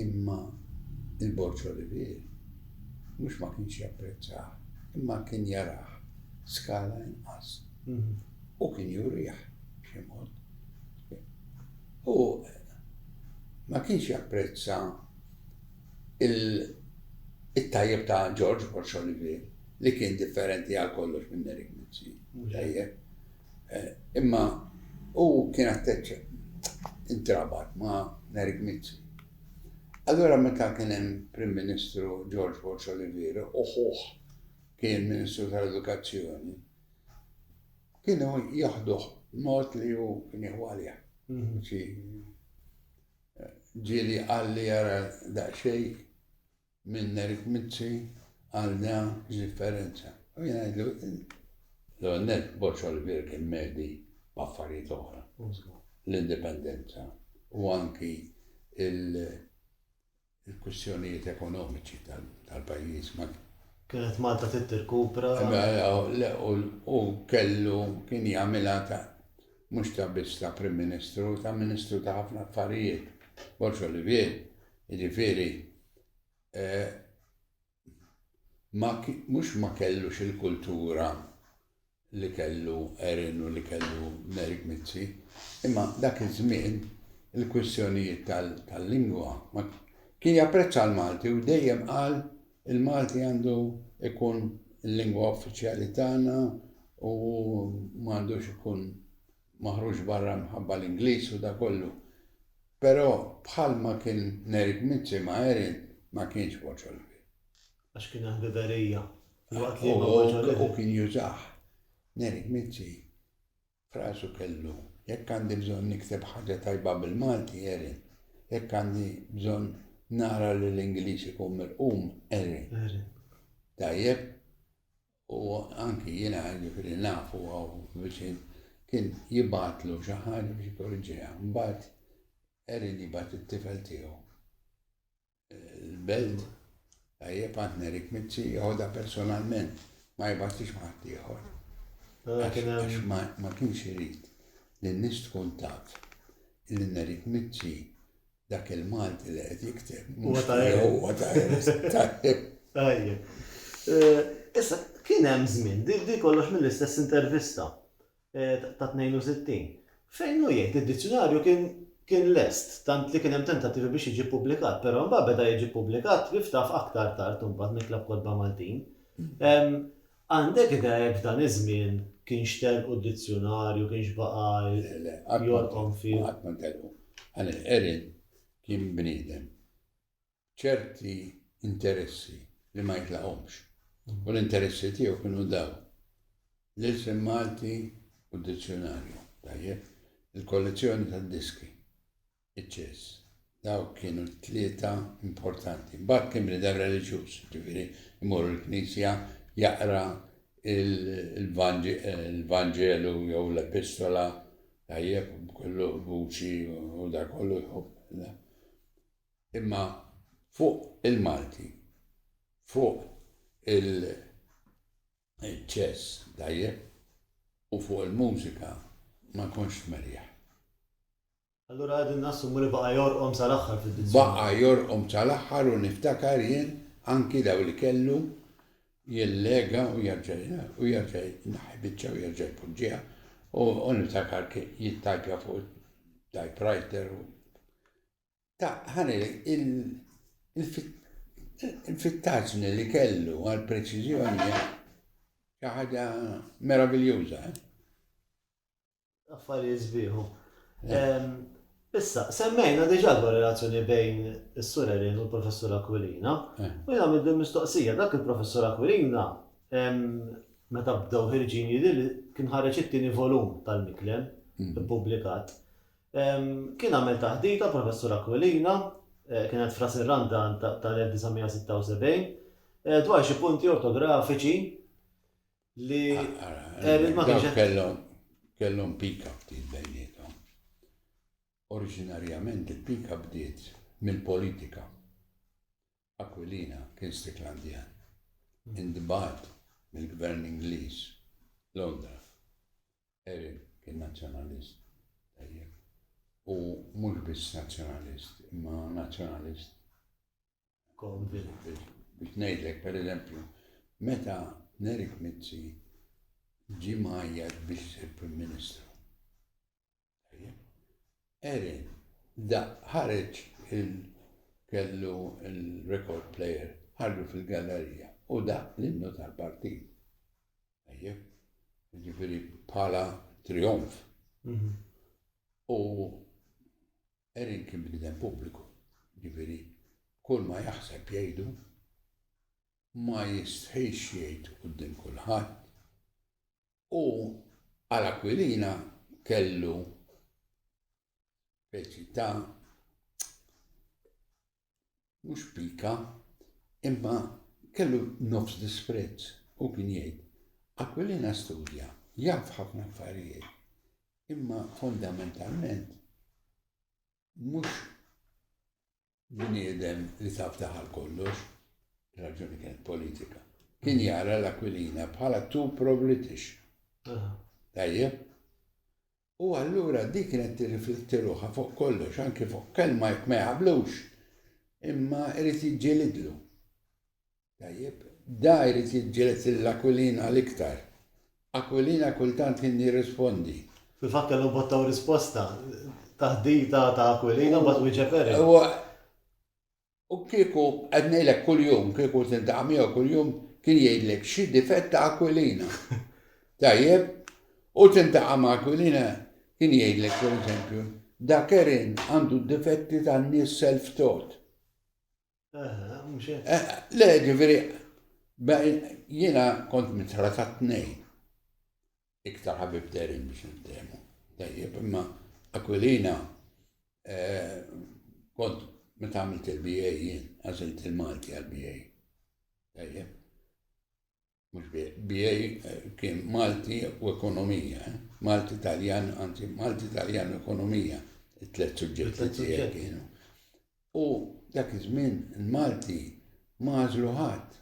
Imma il-Boċċo li fir, mux ma kienx japprezzaħ, imma kien jaraħ skala inqas. Hu kien jurih b'xi mod. Hu ma kienx japprezza it-tajjeb ta' George Borg Olivier li kien differenti għal kollox minn Eric Mizzi, mhu tajjeb. Imma hu kien attache, intrabat ma' Eric Mizzi. Allura meta kien hemm Prim Ministru George Borg Olivier u ħuh kien Ministru tal-Edukazzjoni, Kienu jieħduh mod li hu kien jieħu għalih. Xi ġieli qal li jara daqsxejn minn Eric Mizzi għal da x'differenza. U jiena ngħidlu l-għonnet Boċ Olivier kien medi b'affarijiet oħra. L-indipendenza u anki il-kwistjonijiet ekonomiċi tal-pajjiż ma Kienet Malta trid tirkupra. U kellu kien jagħmilha ta' mhux ta' biss ta' Prim Ministru, ta' Ministru ta' ħafna affarijiet. Borx Olivier, jiġifieri eh, ma mhux ma kellux il-kultura li kellu Erin u li kellu Merik Mizzi, imma dak iż-żmien il-kwistjonijiet tal-lingwa ma kien japprezza l-Malti u dejjem qal il-Malti għandu ikun il-lingwa uffiċjali tagħna u m'għandux ikun maħruġ barra mħabba l-Ingliż u dak kollu, però bħal ma kien Nerik Mizzi ma' Erin ma kienx boċor kbir. Għax kien hemm ħbiberija filwaqt li ma' boċor kbir. U kien jużah. Nerik Mizzi f'rasu kellu, jekk għandi bżonn nikteb ħaġa tajba bil-Malti, Erin. Jekk għandi bżonn nara li l-Ingliż ikun mirqum, Erin. Tajjeb? u anki jiena jiġifieri naf u hawn viċin, kien jibgħatlu xi ħaġa biex jikorriġiha. Mbagħad Erin jibgħat it-tifel tiegħu l-belt tajjeb għand Nerik Mizzi joħodha personalment, ma jibgħatlix ma' ħadd ieħor. Mela għax ma kienx irid li n-nies tkun taf li Nerik Mizzi Dak il-Malti li qed jikteb. Huwa ta' Huwa ta' Tajjeb. Tajjeb. Eh, issa, kien hemm żmien, di kollox mill-istess intervista eh, ta' 62, fejn hu jgħid id-dizzjonarju kien kien lest, tant li kien hemm tentattivi biex jiġi ppubblikat, però mbagħad beda jiġi ppubblikat biftaf aktar tard imbagħad mill-Klabb Kotba Maltin. Għandek idea jekk f'dan iż-żmien kienx telqu d-dizzjunarju, kienx baqa' jorqom fih? Le, le, qatt ma ntelqu. Għal inqeri kien bniedem b'ċerti interessi li ma jitlaqhomx. U l-interessi tiegħu kienu dawn, l-ilsien Malti u d-dizzjunarju, tajjeb, il-kollezzjoni tad-diski. iċ-ċess. Dawk kienu t-tlieta importanti. Mbagħad kien bnidem reliġjuż, ġifieri imur il-knisja jaqra il-Vanġelu eh, jew l-Epistola tajjeb kollu vuċi u da kollu jħobb. Imma fuq il-Malti, fuq il- ċess dajjeb u fuq il-mużika ma konx merjaħ. Allura qegħdin nassumu li baqa' jorqom sal-aħħar fid-dizzjunarju. Baqa' jorqom sal-aħħar u niftakar jien anki daw li kellu jillega u jerġa' u jerġa' jnaħħi biċċa u jerġa' jpoġġiha u niftakar jittajpja fuq it-typewriter u ta' ħanilek il-fittaġni li kellu għal preċiżjoni xi ħaġa meraviljuża. Affarijiet sbieħ hu. Issa, semmejna diġà dwar relazzjoni bejn is-Sur Elin u l-Professur Aquilina, u jien għamilt din mistoqsija, dak il-Professur Aquilina meta bdew ħirġin jidhir li kien ħareġ it-tieni volum tal-Miklem ippubblikat. Kien għamel taħdita l-Professur Aquilina, kienet f'Ras ir-Randa tal-1976, dwar xi punti ortografiċi li Erin ma kienx kellhom kellhom pika ftit bejnietom. Oriġinarjament il-pika bdiet mill-politika. Aquilina kien Stiklandjan. Indbat mill-gvern Ingliż Londra. Erin kien nazzjonalist. U mhux biss nazzjonalist, imma nazzjonalist konvint biex ngħidlek pereżempju meta Nerik Mizzi ġie mgħajjat biex isir Prim Ministru. Erin, da ħareġ il-kellu il-record player, ħarġu fil-gallerija u da l-innu tal-partit. Ejjeb, ġifiri bħala trionf. Mhm. U Erin kien bniedem pubbliku, jiġifieri kull ma jaħseb jgħidu, ma jistħix jgħid quddiem kulħadd u għal Aquilina kellu speċi ta' Mhux pika, imma kellu nofs disprezz. Hu kien jgħid, Aquilina studja, jaf ħafna affarijiet, imma fondamentalment mhux bniedem li taf daħal kollox, raġuni kienet politika. Kien jara l-Aquilina bħala tu pro-British. Tajjeb? U allura dik kienet tirrifletti ruħha fuq kollox, anki fuq kelma jekk ma jaqblux, imma jrid jiġġielidlu. Tajjeb, da jrid jiġġieled lil Aquilina l-iktar. Aquilina kultant kien jirrispondi. Fil-fatt kellhom botta u risposta, taħdita ta' Aquilina u mbagħad wieġeb Eric. U kieku, qed ngħidlek kuljum, kieku tiltaqa' miegħu kuljum, kien jgħidlek xi difett ta' Aquilina. Tajjeb? U tiltaqa' ma' Aquilina, kien jgħidlek, per eżempju, da Kerin għandu d-difetti tan-nies self-taught. Aha, mhux hekk. Eh, le, ġifieri, jiena kont mitra ta' tnejn. iktar ħabib derin biex niftehmu. Tajjeb, imma Aquilina eh, kont meta għamilt il-BA jien, għazilt il-Malti għal-BA. Tajjeb. Mux BA eh, kien Malti u ekonomija, eh. Malti Taljan, anzi Malti Taljan u ekonomija, it-tlet suġġetti tiegħi kienu. U dak iż-żmien il-Malti mażlu ħadd.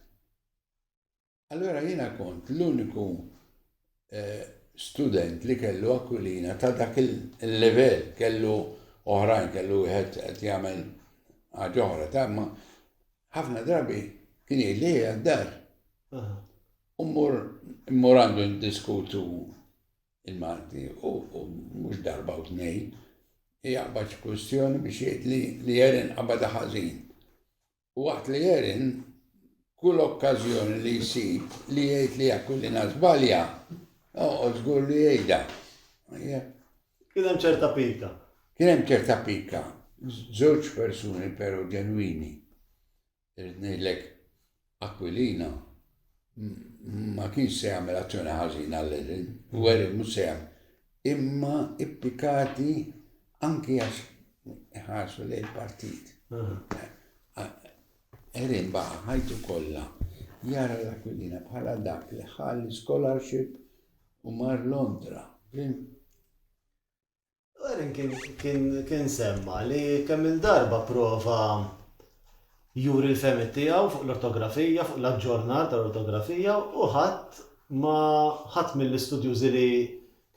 Allura jiena kont l-uniku student li kellu Aquilina ta' dak il-livell, kellu oħrajn, kellu wieħed qed jagħmel ħaġa oħra, ta' ma ħafna drabi kien jgħid li hija d-dar. U mmur għandu ndiskutu il-Malti u mhux darba u tnejn jaqbad kwistjoni biex jgħid li jerin qabada ħażin. Waqt li Erin kull okkażjoni li jsib li jgħid li Aquilina żbalja, oqgħod żgur li jgħidha. Kien hemm ċerta pika. Kien hemm ċerta pika. Żewġ persuni però ġenwini. Irrid ngħidlek Aquilina ma kienx se jagħmel azzjoni ħażina għal Erin, u Erin mhux se jagħmel. imma ippikati anki għax ħarsu lejn partit. Erin baqa ħajtu kollha jara l-Aquilina bħala dak li ħalli scholarship u mar Londra. Erin kien semma li kemm il-darba prova juri l-fehmiet tiegħu fuq l-ortografija, fuq l-aġġornar tal-ortografija u ħadd ma ħadd mill-istudjużi li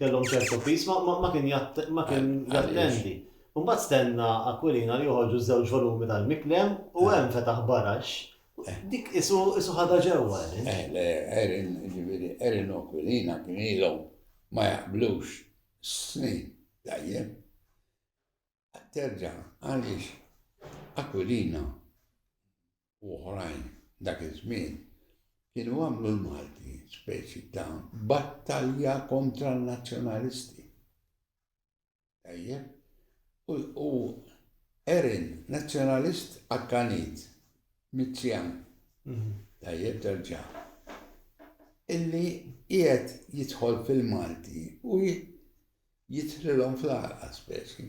kellhom ċertu piż ma ma kien ma kien jattendi. U mbagħad stenna Aquilina li joħorġu ż-żewġ volumi tal-Miklem u hemm fetaħ barax dik isu isu ħadha ġewwa Erin. Eh, le, Erin, ġifieri, Erin u Aquilina kien ilhom ma jaqblux snin tajjeb. Terġa' għaliex Aquilina u oħrajn dak iż-żmien kienu għamlu l-Malti speċi ta' battalja kontra n-Nazzjonalisti. Tajjeb? U Erin, Nazzjonalist akkanit, mizzjan, mhm. tajjeb terġa' illi qiegħed jidħol fil-Malti u jidħlilhom fl-għalqa speċi.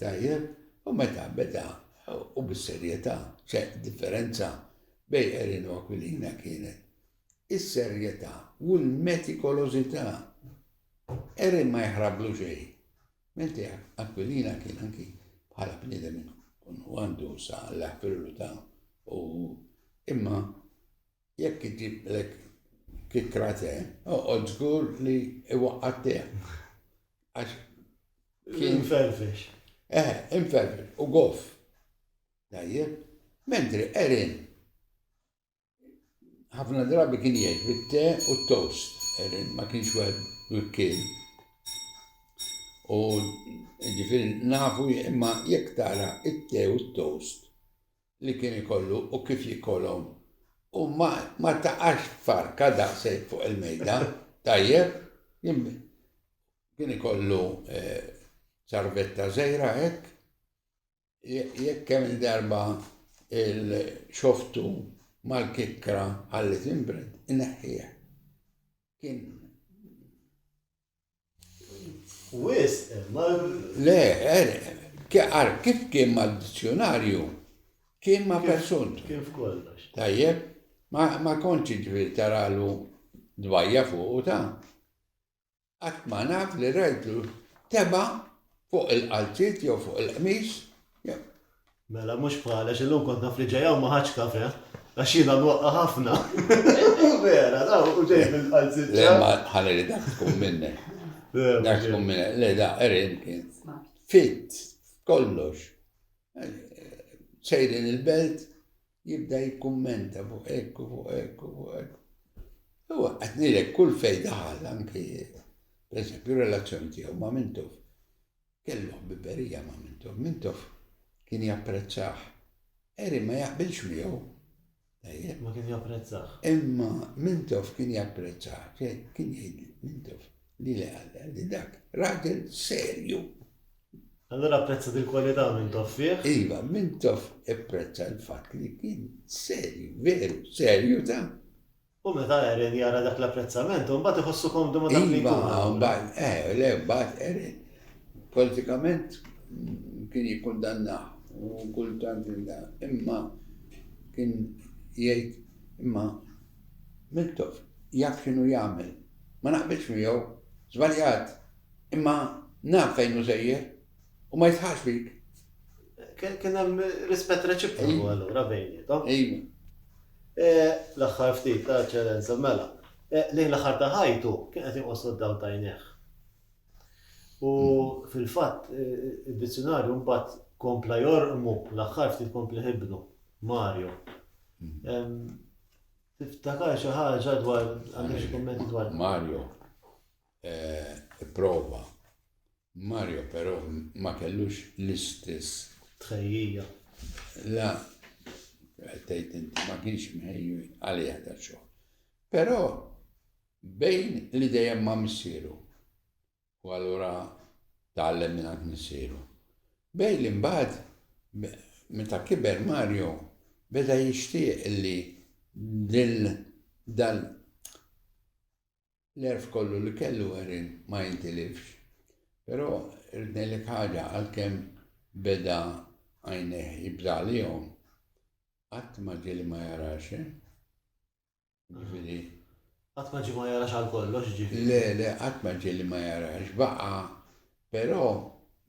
Tajjeb? U meta beda, u bis-serjetà, ċe differenza bej Erin u Aquilina kienet is-serjetà u l-metikolożità. Erin ma jaħrablu xejn. Menti Aquilina kien anki bħala bniedem kun għandu sa l-affirru ta' u imma Jekk iġiblek kikra te, oqgħod żgur li iwaqqa' tiegħek. Għax kien ferfex. Eh, inferfex u goff. Tajjeb, mentri Erin ħafna drabi kien jgħid bit-te u t-toast. Erin ma kienx wieħed mikkil. U ġifieri nafu imma jekk tara it-te u t-toast li kien ikollu u kif jikolhom u ma ma taqax farka daqshekk fuq il-mejda, tajjeb, jien kien ikollu ċarvetta żgħira hekk, jekk kemm il-darba il-xoftu mal-kikkra ħalli tinbred, ineħħiha. Kien Wisq, imma. Le, għar kif kien mal-dizzjonarju, kien ma' persuntu. Kien f'kollox. Tajjeb, ma konċi ġviri taralu dbajja fuq u ta' qatt ma naf li rajtlu teba fuq il-qalziet jew fuq il-qmis Mela mhux bħal għax illum kont naf li ġej hawn ma ħadtx kafè għax jiena nwaqqa' ħafna. Vera, da u ġej bil-qalziċċa. Le ma ħalli li dak tkun minnek. Dak tkun minnek. Le da Erin kien fit kollox. Sejrin il-belt jibda jikkummenta fuq ekku, fuq ekku, fuq ekku. U għatnilek kull fej daħal anki, per esempio, relazzjoni tiegħu ma' mintuf. Kellu ħbiberija ma' Mintoff. Mintoff kien japprezzah. Harry ma jaqbilx miegħu. Tajjeb. Ma kien japprezzah. Imma Mintoff kien japprezzah. Kien jgħid Mintoff, lili qalli, li dak raġel serju. Allura apprezza dil-kwalità Mintoff fih? Iva, Mintoff ipprezza l-fatt li kien serju, veru, serju ta'. U meta Aaron jara dak l-apprezzament, u mbagħad iħossu komdu ma' dak li jkun allura. Iva, mbagħad, eh, le, mbagħad Aaron politikament kien jikkundannah u kultant imma kien jgħid imma Miltoff jaf x'inhu jagħmel. Ma naqbilx miegħu, żbaljat, imma naf fejn hu sejjer. U ma jisħax fik. Kien hemm rispett reċiproku allura bejnietom. Ejma. Eh, l-aħħar ftit ta' ċerenza mela. Eh, lejn l-aħħar ta' ħajtu kien qed inqossu d-daw tajneħ. U fil-fatt eh, id-dizzjonarju mbagħad kompla jorqmu l-aħħar ftit kompli ħibnu Mario. Tiftakar xi ħaġa dwar għandek xi kummenti dwar Mario. Ipprova. Mario però ma kellux l-istess. Tħejjija. La, tgħid inti ma kienx mħejju għalija ta' xogħol. Però bejn li dejjem ma' missieru u allura tgħallem minn missieru. Bejn li mbagħad meta kiber Mario beda jixtieq li din dan L-għerf kollu li kellu Erin ma jintilifx. Però irrid ngħidlek ħaġa, għalkemm beda għajnejh jibża' għalihom, qatt ma ġieli ma jarax, eh? Jiġifieri. Qatt ma ġie ma jarax għal kollox, jiġifieri. Le, le, qatt ma ġieli ma jarax. Baqa', però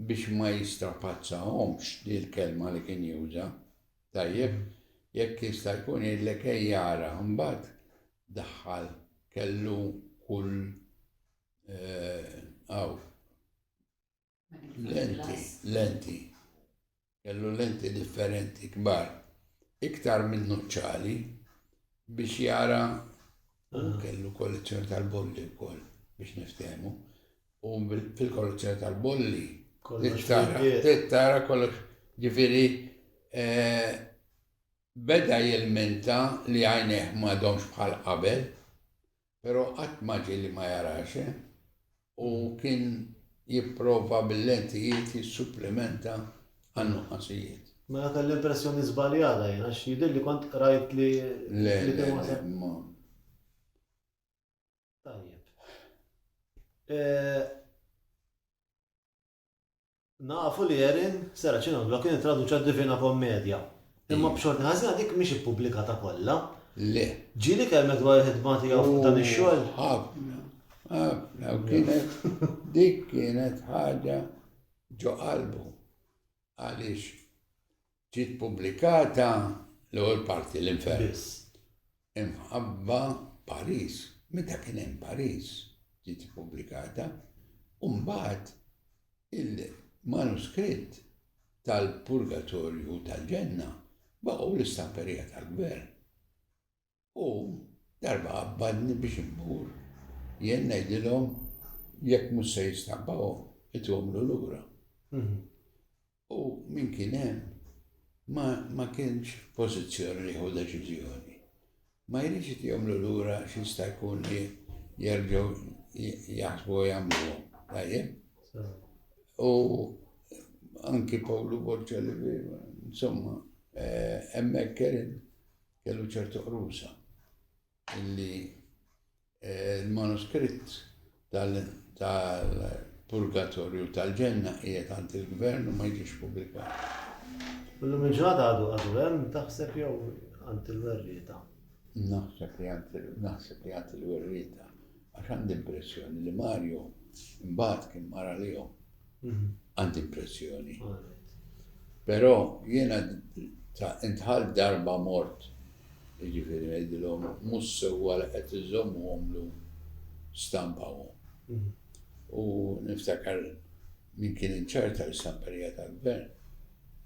biex ma jistrapazzahomx, hi l-kelma li kien juża, tajjeb, jekk jista' jkun jgħidlek ejja ara, imbagħad daħħal kellu kull għaw eh, lenti, lenti, kellu lenti differenti kbar, iktar minn nuċċali biex jara u kellu kollezzjoni tal-bolli wkoll biex niftehmu. U fil-kollezzjoni tal-bolli tara kollox ġifieri eh, Beda jilmenta li għajnejh m'għadhomx bħal qabel, però qatt ma ġie li ma jarax u kien jipprova bil-lentijiet jissupplimenta għan-nuqqasijiet. Mela kelli impressjoni żbaljata jien għax jidhirli kont qrajt li kien wasal. Le, le, le, ma. Tajjeb. Nafu li Erin Seracinuglou kien ittraduċa d-Divina Kommedja, imma b'xorti ħażina dik mhix ippubblikata kollha. Le. Ġieli jkellmek dwar il-ħidma tiegħu fuq dan ix-xogħol? Hu, ħafna, ħafna, u kienet, dik kienet ħaġa ġo qalbu. Għaliex Ġiet pubblikata l-ewwel parti, L-Infern. Biss. Imħabba, Pariġ. Meta kien hemm Pariġ ġiet ippubblikata, u mbagħad il-manuskritt tal-Purgatorju u tal-Ġenna baqgħu l-istamperija tal-Gvern. U darba qabbadni biex immur, jien ngħidilhom, Jekk mhux se jistabbawhom, ituhomlu lura. U min kien hemm ma ma kienx f'pożizzjoni li jieħu deċiżjoni. Ma jridx itihomlu lura għax jista' jkun li jerġgħu jaħsbu u jagħmluhom. Tajjeb? U anki Pawlu Borċa li insomma hemmhekk kien Kellu ċertu qrusa illi l-manuskritt tal-purgatorju tal-ġenna qiegħed għand il-gvern u ma jiġix pubblikat. Illum il-ġurnata għadu għadu hemm taħseb jew għand il-werrieta? Naħseb li naħseb li għand il-werrieta. Għax għandi impressjoni li Mario mbagħad kien mara lihom Għandi impressjoni. Però jiena ta' intħalt darba mort, jiġifieri ngħidilhom mhux sewwa li qed iżommuhom llum stampawhom. U niftakar min kien in charge tal-istamperija tal-Gvern.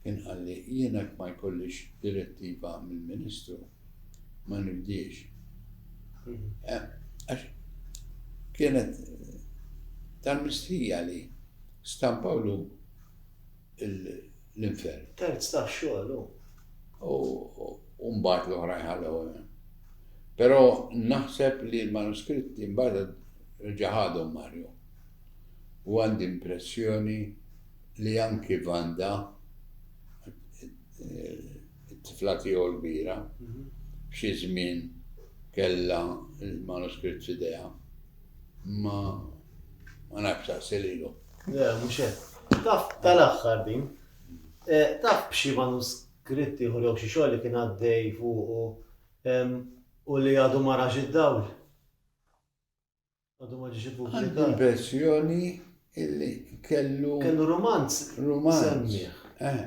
Inqal li jien hekk ma jkollix direttiva mill-Ministru ma nibdiex. Għax kienet tal-mistħija li stampawlu l-infern. Terz tax-xogħol hu. U mbagħad l-oħrajn ħallewhom hemm. Però naħseb li l-manuskritti mbagħad reġa' ħadhom Mario. U għandi impressjoni. li anki Vanda, it-tifla tiegħu l-kbira, f'xi żmien kellha l-manuskritt f'idejha. Imma ma nafx saqsi lilu. Le, mhux hekk. Taf tal-aħħar din. Taf b'xi manuskritt ieħor jew xi xogħol li kien għaddej fuqu u li għadu ma rax id-dawl? Għadu ma ġiex ippubblikat. Għandi l-impressjoni illi kellu. Kellu romanz. Romanz. Semmiħ. Eh.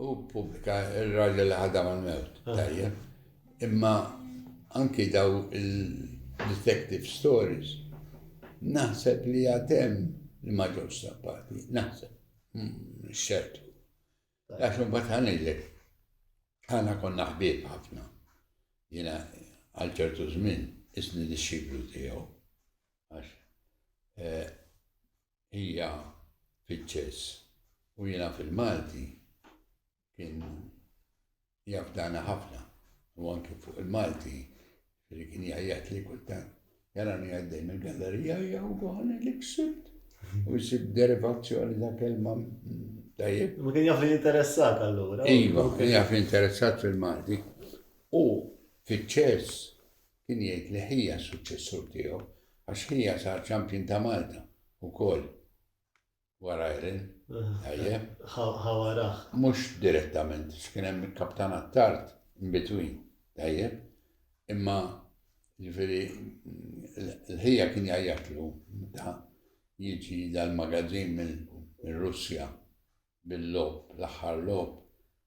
U pubblika il-raġel ħadam għal-mewt. Eh. Tajjeb. Imma anki daw il-detective stories naħseb li għatem li ma ġewx stampati. Naħseb. Hmm, xertu. Għax imbagħad ħa ngħidlek, aħna konna ħbieb ħafna. Jiena għal ċertu żmien isni dixxiplu tiegħu. Għax eh, hija fiċ-ċess u jiena fil-Malti kien Jafdana ħafna u anki fuq il-Malti li kien jgħajjat li kultant jarani għaddej mill-gallerija jew għan li ksibt u jisib derivazzjoni ta' kelma tajjeb. Ma kien jaf li interessat allura. Iva, kien jaf li interessat fil-Malti u fiċ-ċess kien jgħid li ħija suċċessur tiegħu għax ħija sar ċampjun ta' Malta u koll. Warajrin, ejje. Ħawaraħ. Mhux direttament, x'kien hemm il-kaptanat tard, in between, ejje. Imma ġifieri l-ħija kien jgħajjatlu meta jiġi dal-magazzin minn Russja bil-lob, l-aħħar lob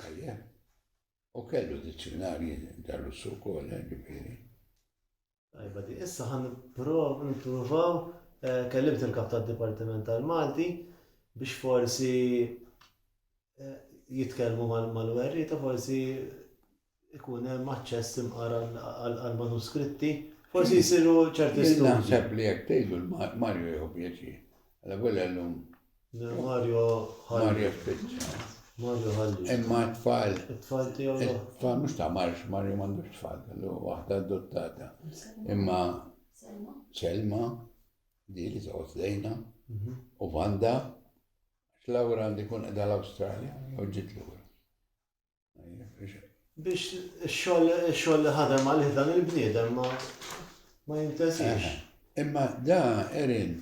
Tajjeb. U kellu dizzjunarji dar-Russu wkoll, eh, ġifieri. Tajba di, issa ħan nipprov nippruvaw eh, kellimt il-kap tad-Dipartiment tal-Malti biex forsi eh, jitkellmu mal-werrieta forsi ikun hemm aċċess imqar għall-manuskritti, forsi jsiru ċerti studji. Jien naħseb li jekk tgħidlu l-Mario jieħu pjaċir. Alla volja llum. Mario ħalli. Mario spiċċa. Mario ħalli. Imma t-tfal. It-tfal tiegħu. It-tfal mhux ta' marx, Mario m'għandux tfal, kellu waħda adottata. Imma Selma, di li toqgħod lejna, mhm. u Vanda, Laura għandi kun qeda l-Awstralja, u ġiet lura. Biex ix-xogħol li ħadem għalih dan il-bniedem ma jintesix. Imma da Erin,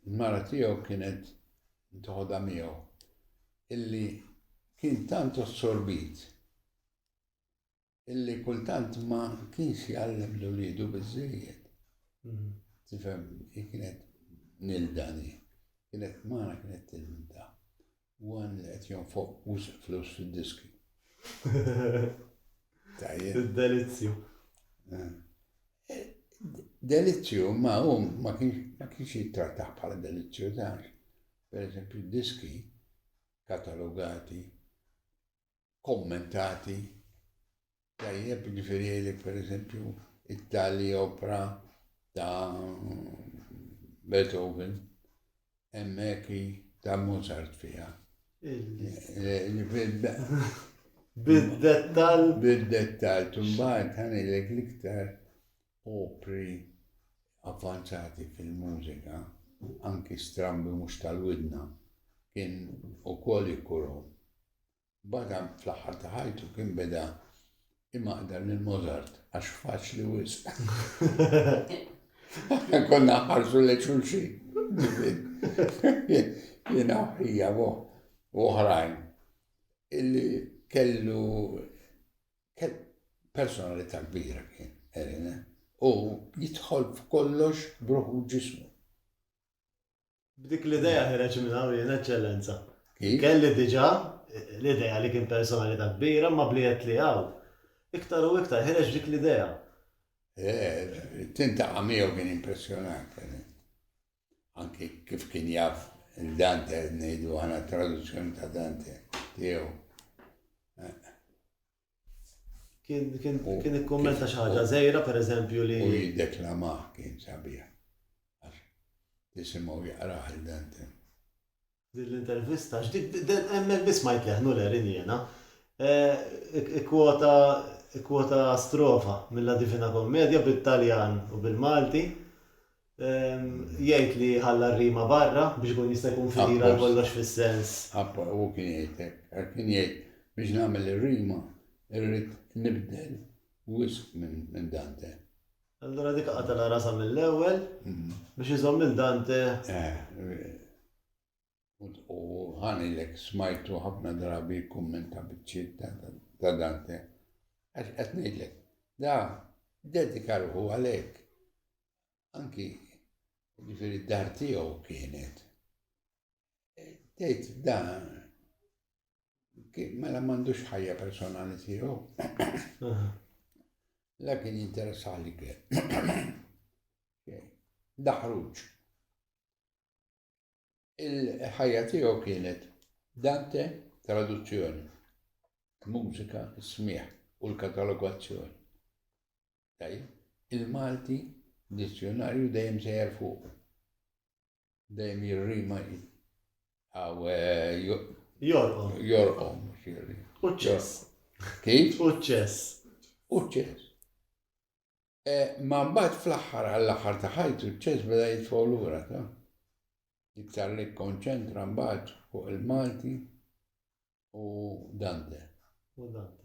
il-mara tiegħu kienet toħodha miegħu illi kien tant ossorbit illi kultant ma kienx jgħallem l-ulidu biżżejjed. Mhm. Tifhem, kienet nildani, kienet mara kienet tilminta. One li qed jonfoq wisq flus fid-diski. Tajjeb. Delizzju. Eh. Eh, delizzju ma hum ma kienx jittrattaħ bħala delizzju tax. Per eżempju, diski katalogati kommentati tajjeb ġifiri li per eżempju it-tali opra ta' Beethoven emmeki ta' Mozart fija. Bid-dettal. Bid-dettal, tumbaħt għanilek liktar opri avvanzati fil-mużika, anki strambi mux tal-widna, kien u koll jikurom. Bada fl-aħħar ta' ħajtu kien beda imaqdar lil Mozart għax faċli wisq. Konna ħarsu li xulxi. Jena hija u oħrajn illi kellu personalità kbira kien Erina u jidħol f'kollox bruħu ġismu. B'dik l-idea ħereġ minn hawn jien, Eċċellenza. Kif? Kelli diġà l-idea li kien personalità kbira, imma b'li għedt li hawn, iktar u iktar ħereġ b'dik l-idea. Tintaqa' miegħu kien impressjonanti. Anki kif kien jaf il-Dante, ngħidu aħna traduzzjoni ta' Dante tiegħu. Kien kien kien ikkummenta xi ħaġa żejra pereżempju li. U jiddeklamah kien sabiħ. Għax tisimgħu jaqrah il-Dantin. Din l-intervista, hemmhekk biss ma jtleħ Nuller injena. Ikkwota ikkwota strofa mill-La Divina Commedia bit-Taljan u bil-Malti. Jgħid li ħalla r-rima barra biex ikun jista' jkun fidil għal kollox fis-sens. Apposta, hu kien jgħid hekk. Għax kien jgħid biex nagħmel ir-rima irrid nibdel wisq minn Dante. Allura dik qatala rasha mill-ewwel biex iżomm lil Dante. Eh, U ħanilek smajtu ħafna drabi jikkummenta biċċiet ta' Dante. Għax qed ngħidlek, da dedika ruħu għalhekk. Anki ġifieri d-dar tiegħu kienet. E, tgħid da mela m'għandux ħajja personali tiegħu. La kien interessali kien. Daħruġ. Il-ħajja tiegħu kienet Dante traduzzjoni, mużika, smigħ u l-katalogazzjoni. Tajjeb, il-Malti dizzjonarju dejjem sejjer fuq. Dejjem jirrima għaw eh, jorqom. Jorqom, xirri. Uċċess. Kif? Uċċess. Uċċess. Imma mbagħad fl-aħħar għall-aħħar ta' ħajtu ċ-ċess beda jitfgħu lura ta' iktar li kkonċentra mbagħad fuq il-Malti u Dante. U Dante.